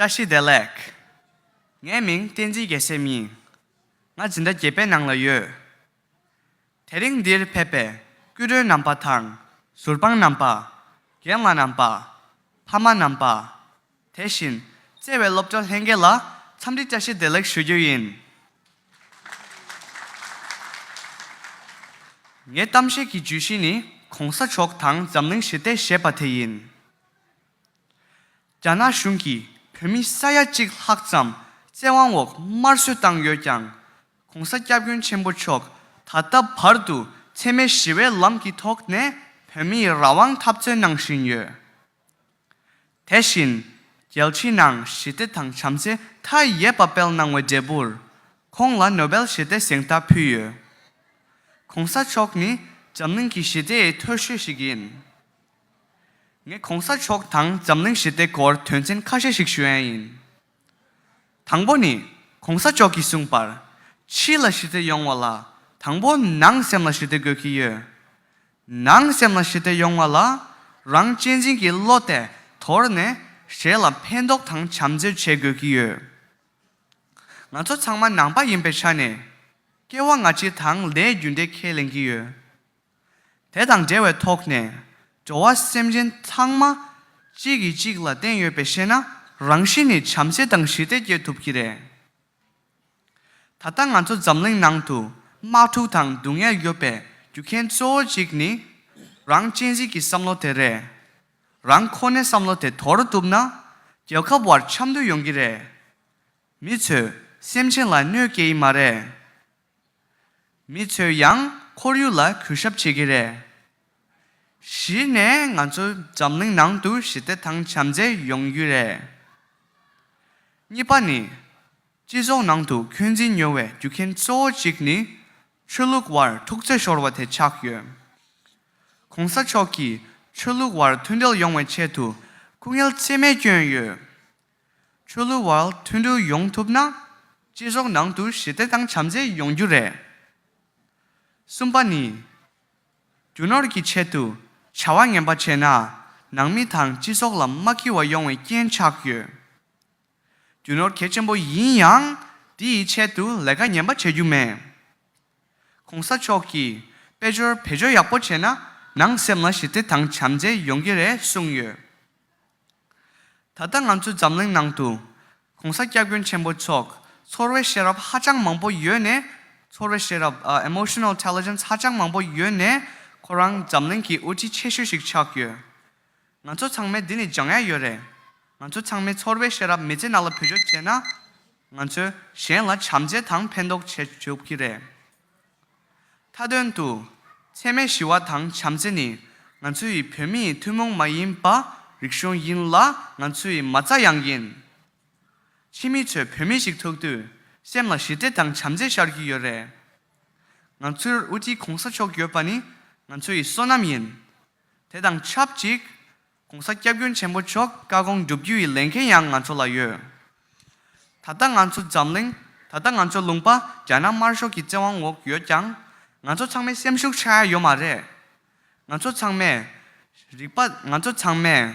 Speaker 10: བཀྲ་ཤིས་བདེ་ལེགས། ངའི་མིང་བསྟན་འཛིན་རྒྱལ་སྲས་ཡིན། ང་འཛིན་གྲྭ་བརྒྱད་པའི་ནང་ལ་ཡོད། དེ་རིང་འདིར་ཕེབས་པའི་སྐུ་མགྲོན་རྣམ་པ་དང་ཟུར་དཔང་རྣམ་པ། རྒན་ལགས་རྣམ་པ། ཕ་མ་རྣམ་པ། དེ་བཞིན་བརྩེ་བའི་སློབ་གྲྭ་ལྷན་རྒྱས་ལ་འཚམས་འདྲི་བཅའ་ཤེས་བདེ་ལེགས་ཞུ་རྒྱུ་ཡིན། ངའི་གཏམ་བཤད་ཀྱི་བརྗོད་གཞི་ནི་གོང་ས་མཆོག་དང་འཛམ་གླིང་ཞི་བདེ་ཞེས་པ་དེ་ཡིན། རྒྱ་ནག་གཞུང་གིས་བོད་མི་ས་ཡ་གཅིག་ལྷག་ཙམ་བཙན་དབང་འོག་དམར་གསོད་བཏང་ཡོད་ཀྱང། གོང་ས་སྐྱབས་མགོན་ཆེན་པོ་མཆོག་ད་ལྟ་བར་དུ་འཚེ་མེད་ཞི་བའི་ལམ་གྱི་ཐོག་ནས་བོད་མིའི་རང་དབང་འཐབ་རྩོད་གནང་བཞིན་ཡོད། དེ་བཞིན་རྒྱལ་ཕྱི་ནང་ཞི་བདེ་དང་བྱམས་བརྩེ་མཐའ་ཡས་པ་སྤེལ་གནང་བའི་འབྲས་བུར་ཁོང་ལ་ནོ་བེལ་ཞི་བདེ་གཟེངས་རྟགས་ཕུལ་ཡོད། གོང་ས་མཆོག་ནི་འཛམ་གླིང་གི་ཞི་བདེའི་མཐོ་ཤོས་ཤིག་ཡིན། ངས་གོང་ས་མཆོག་དང་འཛམ་གླིང་ཞི་བདེ་སྐོར་དོན་ཚན་ཁ་ཤས་ཤིག་ཞུ་ཡན་ཡིན། དང་པོ་ནི། གོང་ས་མཆོག་གིས་གསུངས་པར། ཕྱི་ལ་ཞི་བདེ་ཡོང་བ་ལ་དང་པོ་ནང་སེམས་ལ་ཞི་བདེ་དགོས་ཀྱི་ཡོད། ནང་སེམས་ལ་ཞི་བདེ་ཡོང་བ་ལ་རང་གཅེས་འཛིན་གྱི་བློ་དེ་དོར་ནས་གཞན་ལ་ཕན་འདོགས་དང་བྱམས་བརྩེ་བྱེད་དགོས་ཀྱི་ཡོད། ང་ཚོ་ཚང་མ་ནང་པ་ཡིན་པའི་ཆ་ནས་སྐྱེ་བ་སྔ་ཕྱི་དང་ལས་རྒྱུ་འབྲས་ཁས་ལེན་གྱི་ཡོད། དེ་དང་འབྲེལ་བའི་ཐོག་ནས་འགྲོ་བ་སེམས་ཅན་ཚང་མ་གཅིག་གིས་གཅིག་ལ་བརྟེན་ཡོད་པས་ཤེས་ན་རང་གཤིས་ནི་བྱམས་བརྩེ་དང་ཞི་བདེ་སྐྱེ་ཐུབ་ཀྱི་རེད། ད་ལྟ་ང་ཚོ་འཛམ་གླིང་ནང་དུ་དམག་འཁྲུག་དང་སྡུག་བསྔལ་ཡོད་པའི་རྒྱུ་མཁན་གཙོ་བོ་གཅིག་ནི་རང་གཅེས་འཛིན་གྱི་བསམ་བློ་དེ་རེད། རང་ཁོ་ནའི་བསམ་བློ་དེ་དོར་བཏུབ་ན་རྒྱལ་ཁབ་བར་འཆམ་མཐུན་ཡོང་གི་རེད། མི་ཚོས་སེམས་ཅན་ལ་གནོད་སྐྱེལ་ཡི་མ་རེད། མི་ཚོས་ཡང་ཁོར་ཡུག་ལ་གུས་ཞབས་བྱེད་ཀྱི་རེད། གཞི་ནས་ང་ཚོ་འཛམ་གླིང་ནང་དུ་ཞི་བདེ་དང་བྱམས་བརྩེ་ཡོང་རྒྱུ་རེད། གཉིས་པ་ནི། སྤྱི་ཚོགས་ནང་དུ་འཁོན་འཛིན་ཉོ་བའི་རྒྱུ་རྐྱེན་གཙོ་བོ་གཅིག་ནི། ཆོས་ལུགས་བར་ཐུག་རྩེ་ཤོར་བ་དེ་ཆགས་ཡོད། གོང་ས་མཆོག་གིས་ཆོས་ལུགས་བར་མཐུན་སྒྲིལ་ཡོང་བའི་ཆེད་དུ་སྐུ་ངལ་རྩིས་མེད་བསྐྱོན་ཡོད། ཆོས་ལུགས་བར་མཐུན་སྒྲིལ་ཡོང་ཐུབ་ན། སྤྱི་ཚོགས་ནང་དུ་ཞི་བདེ་དང་བྱམས་བརྩེ་ཡོང་རྒྱུ་རེད། གསུམ་པ་ནི། རྒྱུ་ནོར་གྱི་ཆེད་དུ་བྱ་བ་ངན་པ་བྱས་ན་ནང་མི་དང་སྤྱི་ཚོགས་ལ་མ་འཁི་བ་ཡོང་བའི་རྐྱེན་ཆགས་ཡོད། རྒྱུ་ནོར་གལ་ཆེན་པོ་ཡིན་ཡང་དེ་ཡི་ཆེད་དུ་ལས་ཀ་ངན་པ་བྱེད་རྒྱུ་མེད། གོང་ས་མཆོག་གིས་དཔལ་འབྱོར་བེད་སྤྱོད་ཡག་པོ་བྱས་ན་ནང་སེམས་ལ་ཞི་བདེ་དང་བྱམས་བརྩེ་ཡོང་གི་རེད་གསུངས་ཡོད། ད་ལྟ་ང་ཚོའི་འཛམ་གླིང་ནང་དུ། གོང་ས་སྐྱབས་མགོན་ཆེན་པོ་མཆོག་ཚོར་བའི་ཤེས་རབ་ཧ་ཅང་མང་པོ་ཡོད་ནས། ཚོར་བའི་ཤེས་རབ Emotional Intelligence ཧ་ཅང་མང་པོ་ཡོད་ནས་ཁོ་རང་འཛམ་གླིང་གི་དབུ་ཁྲིད་ཆེ་ཤོས་ཤིག་ཆགས་ཡོད། ང་ཚོ་ཚང་མས་འདི་ནས་སྦྱང་ཡ་ཡོད་རེད། ང་ཚོ་ཚང་མས་ཚོར་བའི་ཤེས་རབ་མི་ཚེ་ནང་ལ་བོད་སྦྱོར་བྱས་ན། ང་ཚོས་གཞན་ལ་བྱམས་བརྩེ་དང་ཕན་འདོགས་བྱེད་ཐུབ་ཀྱི་རེད། མཐའ་དོན་དུ། འཚེ་མེད་ཞི་བ་དང་བྱམས་བརྩེ་ནི་ང་ཚོ་ཡི་བོད་མི་ཡི་ཐུན་མོང་མ་ཡིན་པ་རིག་གཞུང་ཡིན་ལ་ང་ཚོ་ཡི་མ་རྩ་ཡང་ཡིན། ཕྱི་མི་ཚོས་བོད་མི་ཞིག་ཐུག་དུས་སེམས་ལ་ཞི་བདེ་དང་བྱམས་བརྩེ་ཤར་གྱི་ཡོད་རེད། ང་ཚོའི་དབུ་ཁྲིད་གོང་ས་མཆོག་ཡོད་པ་ནི་ང་ཚོ་ཡི་བསོད་ནམས་ཡིན། དེ་དང་ཆབས་ཅིག། ྋགོང་ས་སྐྱབས་མགོན་ཆེན་པོ་མཆོག་བཀའ་དགོངས་བསྒྲུབ་རྒྱུ་ཡི་ལས་འགན་ཡང་ང་ཚོ་ལ་ཡོད། ད་ལྟ་ང་ཚོ་འཛམ་གླིང། ད་ལྟ་ང་ཚོའི་ལུང་པ་རྒྱ་ནག་དམར་ཤོག་གི་བཙན་དབང་འོག་ཡོད་ཀྱང། ང་ཚོ་ཚང་མའི་སེམས་ཤུགས་ཆག་ཡ་ཡོད་མ་རེད། ང་ཚོ་ཚང་མས། རིག་པ། ང་ཚོ་ཚང་མས།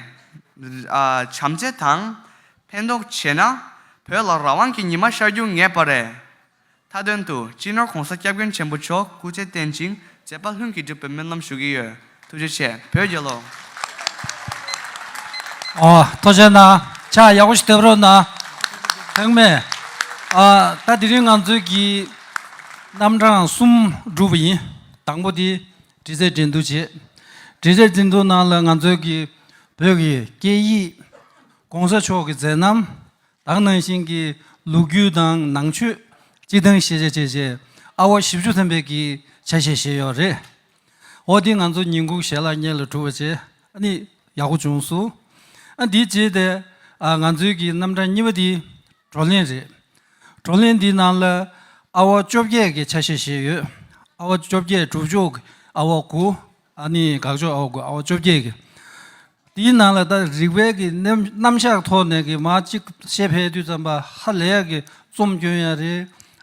Speaker 10: བྱམས་བརྩེ་དང། ཕན་འདོགས་བྱས་ན། བོད་ལ་རང་དབང་གི་ཉི་མ་ཤར་རྒྱུ་ངེས་པ་རེད། མཐའ་དོན་དུ་སྤྱི་ནོར ྋགོང་ས ྋསྐྱབས་མགོན་ཆེན་པོ་མཆོག་སྐུ་ཚེ་བརྟན་ཅིང་མཛད་པ་ལྷུན་གྱིས་འགྲུབ་པའི་སྨོན་ལམ་ཞུ་གི་ཡོད་ཐུགས་རྗེ་ཆེ་བོད་རྒྱལ་ལོ།
Speaker 2: ཐུགས་ཆེ་གནང། ཕྱག་ཡག་པོ་ཞིག་བཏབ་རོགས་གནང། ཐེངས་མེད། ད་དེ་རིང་ང་ཚོའི་གི་རྣམ་གྲངས་གསུམ་བསྒྲུབས་པ་ཡིན། དང་པོ་དེ་འབྲི་རྩལ་འགྲན་བསྡུར་བྱེད། འབྲི་རྩལ་འགྲན་བསྡུར་ནང་ལ་ང་ཚོའི་གི་བོད་གི་སྐད་ཡིག ྋགོང་ས་མཆོག་གི་མཛད་རྣམ་དག་ནང་བཞིན་གྱི་ལུགས་རྒྱུད་དང་ནང་ཆོས་སྤྱི་དང་ཤེས་བྱ་བྱས་རྗེས་ཨ་བ་བཞི་བཅུ་ཐམ་པས་གི་ཆ་ཤས་བཞེས་ཡོད་རེད། འོ་དེ་ང་ཚོ་ཉིན་གུང་ཞལ་ལག་གཉེར་ལ་གྲུབ་པ་བྱས་ནི་ཡག་པོ་བྱུང་སོང། དེའི་རྗེས་དེ་ང་ཚོའི་གི་རྣམ་གྲངས་གཉིས་པ་དེ་བགྲོ་གླེང་རེད། བགྲོ་གླེང་འདིའི་ནང་ལ་ཨ་བ་བཅོ་བརྒྱད་གི་ཆ་ཤས་བཞེས་ཡོད། ཨ་བ་བཅོ་བརྒྱད་གྲུབ་མཆོག་གི་ཨ་བ་དགུ། ཨ་ནི་དགག་བཅོས་ཨའོ་དགོས་ཨའོ་བཅོ་བརྒྱད་ཀྱི། དེའི་ནང་ལ་ད་རིག་པའི་གི་རྣམ་བཞག་ཐོག་ནས་གི་མ་གཅིག་བཤད་ཕའི་དུས་ཙམ་པ་ཧ་ལས་ཡ་གི་རྩོམ་སྐྱོན་ཡ་རེ།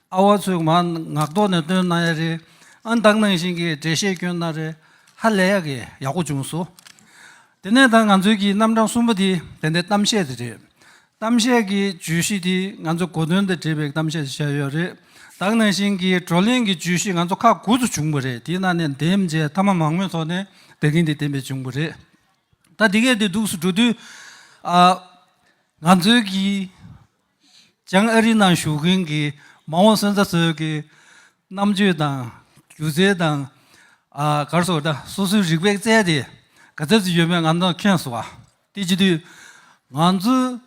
Speaker 2: ཨ་བ་ཚོས་མ་ངག་ཐོག་ནས་བཏོན་གནང་ཡ་རེ། ཨ་འདག་ནང་བཞིན་གི་འགྲེལ་བཤད་སྐྱོན་གནང་རེ། ཧ་ལས་ཡ་གི་ཡག་པོ་བྱུང་སོ། དེ་ནས་ད་ང་ཚོའི་གི་རྣམ་གྲངས་གསུམ་པོ་དེ་དེ་འདྲའི་གཏམ་བཤད་དེ་རེད། གཏམ་བཤད་ཀྱི་བརྗོད་གཞི་དེ་ང་ཚོ་གོ་དོན་དང་འབྲེལ་བའི་གཏམ་བཤད་བྱས་ཡོད་རེད། དྭགས་ནང་བཞིན་གྱི་བགྲོ་གླེང་གི་བརྗོད་གཞི་ང་ཚོ་ཁག་དགུ་ཚོ་བྱུང་པ་རེད་དེའི་ནང་ནས་འདེམས་བྱས་མཐའ་མ་མང་མོས་ཐོག་ནས་བདེ་སྐྱིད་འདི་བསྟན་པའི་བྱུང་བ་རེད། ད་འདི་གས་འདི་འདུག་སུ་འགྲོ་དུས། ང་ཚོའི་གིས་བྱང་ཨ་རི་ནང་བཞུགས་མཁན་གྱི་མ་འོངས་སོན་རྩ་ཚོའི་གི་རྣམ་དཔྱོད་དང་སྒྱུ་རྩལ་དང། གར་སོགས་སོ་སོའི་རིག་པས་བཙལ་ཏེ་ག་ཚད་ཅིག་ཡོད་མེད་ང་ཚོ་མཁྱེན་སོང་བ། དེ་བྱེད་དུས་ང་ཚོའི་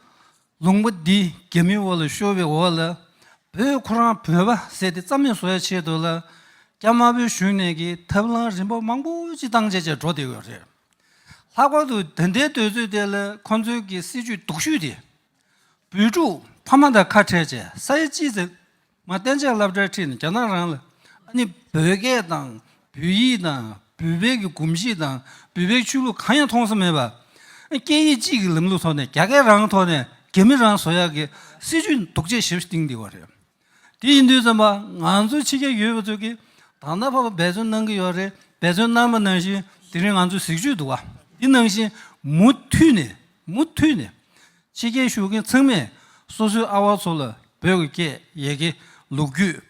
Speaker 2: ལུང་པ་འདི་རྒྱ་མིའི་འོག་ལ་ཤོར་བའི་འོག་ལ་བོད་ཁོ་རང་བོད་པ་ཟེར་ཏེ་རྩ་མེད་བཟོ་བའི་ཆེད་དུ་ལ་རྒྱ་དམར་པོའི་གཞུང་ནས་ཀྱི་ཐབས་ལམ་རིམ་པ་མང་པོ་ཅི་བཏང་བྱས་བྱས་འགྲོ་བསྡད་ཡོད་རེད། ལྷག་པར་དུ་ད་ལྟའི་དུས་ཚོད་དེ་ལ་ཁོང་ཚོའི་ཀྱི་སྲིད་ཇུས་སྡུག་ཤོས་དེ། བུ་ཕྲུག་ཕ་མ་དང་ཁ་བྲལ་བྱས་ས་ཡ་གཅིག་ཙམ། མ་བསྟན་བྱིན་རླབས་བཀྲ་ཁྲིད་ནི་རྒྱ་ནག་རང་ལ་ཨ་ནི་བོད་སྐད་དང་བོད་ཡིག་དང་བོད་བེག་གི་གོམས་གཤིས་དང་བོད་བེག་ཆོས་ལུགས་གང་ཡང་མཐོང་ས་མེད་པ། སྐད་ཡིག་གཅིག་གི་ལམ་ལུགས་ཐོག་ནས་རྒྱ་སྐད་རང་ཐོག་ནས་རྒྱ་མི་རང་བཟོ་ཡག་གི་སྲིད་ཇུས་ནི་དུག་ཆེ་ཞེ་བཞི་སྟེང་འདི་བ་རེད། དེ་ཡིན་དུས་ཙམ་པ་ང་ཚོ་ཕྱི་རྒྱལ་ཡོད་པ་ཚོས་ཀྱི་དང་ད་བར་འབད་བརྩོན་གནང་གི་ཡོད་རེད་འབད་བརྩོན་གནང་མ་གནང་བཞིན་དེ་རིང་ང་ཚོས་གཟིགས་ཇུས་དུ་བ་འདི་གནང་བཞིན་མུ་མཐུད་ནས་མུ་མཐུད་ནས་ཕྱི་རྒྱལ་བཞུགས་མཁན་ཚང་མས་སོ་སོའི་ཨ་བ་ཚོ་ལ་བོད་ཀྱི་སྐད་ཡེ་གེ་ལུག་རྒྱུད་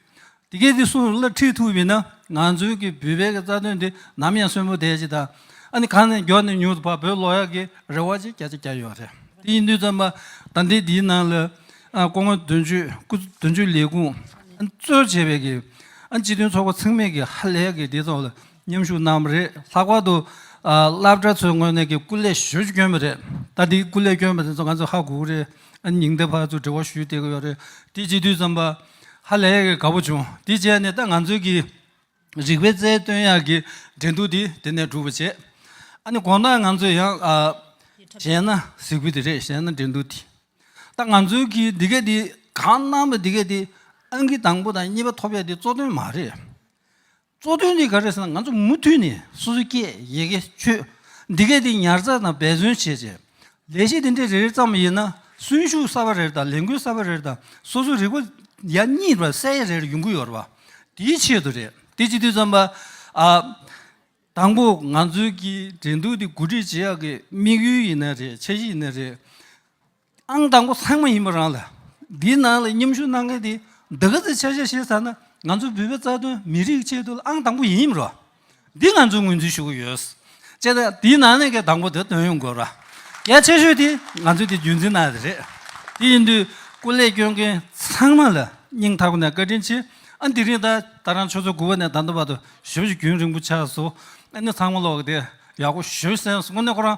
Speaker 2: འདི་སྐད་དེ་སུ་ལ་ཁྲིད་ཐུབ་ཡིན་ན་ང་ཚོའི་གི་བུད་བལ་གི་རྩ་དོན་འདི་ནམ་ཡང་གསོན་པོ་བསྡད་ཅིག་དང་ཨ་ནི་གང་ནས་མགྱོགས་ནས་མྱུར་དུ་བར་བོད་ལོག་ཡག་གི་རེ་བ་ཅིག་བརྒྱ་ཆ་བརྒྱ་ཡོད་རེད་དེ་ཡིན་དུས་ཙམ་པ་ད་འདི་འདིའི་ནང་ལ་ཀོ་ངོ་དོན་གཅོད་སྐུ་དོན་གཅོད་ལས་ཁུངས་གཙོས་བྱས་པའི་གི་སྤྱི་དོན་ཚོགས་པ་ཚང་མས་གི་ཧ་ལས་གི་འདི་ཚོ་ལ། མཉམ་ཞུགས་གནང་བ་རེད་ལྷག་པར་དུ་སླབ་གྲྭ་ཚོའི་ངོས་ནས་ཀྱི་སྐུ་ལས་ཞུ་སྐྱོན་པ་རེད་ད་འདི་སྐུ་ལས་སྐྱོན་པ་དེ་ཚོ་ང་ཚོ་ཧ་གོ་གི་རེད་ཨ་ཉིང་ལྟེ་བར་ཚོ་འབྲེལ་བ་ཞུས་བསྡད་ཀྱི་ཡོད་རེད་དེ་སྤྱི་འཐུས་ཙམ་པ་ཧ་ལས་ཀྱི་དགའ་བོ་བྱུང་དེ་རྗེས་ནས་ད་ང་ཚོའི་ཀྱི་རིག་པའི་རྩལ་བཏོན་ཡག་གི་འགྲན་བསྡུར་དེ་དེ་ནས་གྲུབ་པ་བྱས་ཨ་ནི་གོང་ན་ང་ཚོ་ཡང་གཞན་ན་གཟིགས་བུ་དེ་རེད་གཞན་ན་འགྲན་བསྡུར་དེ་ད་ང་ཚོའི་ཀྱི་འདི་གའི་དེ་གང་གནང་པ་འདི་གའི་དེ་ཨང་ཀི་དང་པོ་དང་གཉིས་པ་ཐོབ་ཡག་དེ་གཙོ་དོན་མ་རེད། གཙོ་དོན་དེ་ག་རེ་ཟེར་ན་ང་ཚོ་མུ་མཐུད་ནས་སོ་སོའི་སྐད་ཡི་གེ་ཆོས་འདི་གའི་སྟེང་ཉར་ཚགས་དང་འབད་བརྩོན་བྱས་རྗེས། ལས་གཞི་འདི་འདྲའི་རེ་རེ་ཙམ་ཡིན་ན་གསོན་ཤུགས་གསར་བ་རེར་དང་ལས་འགུལ་གསར་བ་རེར་དང་སོ་སོའི་རིག་པ་ཡ་གཉིས་པ་གསལ་ཡ་རེར་ཡོང་གི་ཡོད་རེད་པ། དེའི་ཆེད་དུ་རེད་དེ་སྤྱི་འཐུས་ཚང་པ་ཨ། དང་པོ་ང་ཚོའི་གི་འགྲན་བསྡུར་འདི་གོ་སྒྲིག་བྱེད་ཡག་གི་དམིགས་ཡུལ་ཡིན་ན་རེད་འཆར་གཞི་ཡིན་ན་རེད། ཨང་དང་པོ་ཚང་མ་ཡིན་པ་རང་ལ་འདིའི་ནང་ལ་མཉམ་ཞུགས་གནང་མཁན་དེ་འདི་ག་ཚོའི་ཆ་ཤས་ཤེས་ཚར་ན་ང་ཚོ་བོད་པའི་རྩ་དོན་མི་རིགས་ཆེད་དུ་ཨང་དང་པོ་ཡིན་མི་རུང་འདི་ང་ཚོས་ངོས་འཛིན་ཞུ་གི་ཡོད། ཅེས་ན་དེའི་ནང་ནས་གལ་དང་པོ་དེ་དོན་ཡོང་དགོས་ར། གལ་ཆེ་ཤོས་དེ་ང་ཚོས་དེ་རྒྱུན་འཛིན་གནང་ཡོད་རེད། དེ་ཡིན་དུས་སྐུ་ལས་སྐྱོན་མཁན་ཚང་མ་ལ་སྙིང་ཐག་པ་ནས་བཀའ་དྲིན་ཆེ། ཨ་འདི་རིང་ད་ལྟ་རང་ཆོས་ཚོགས་དགུ་བ་ནས་ད་ལྟ་བར་དུ་ཞོལ་གྱི་རྒྱུན་རིང་པོ་ཆགས་སོ། ཨ་ནི་ཚང་མ་ལོག་གི་དེ་ཡག་པོ་ཞོལ་གསན་སོ་དངོས་གནས་ཁོ་རང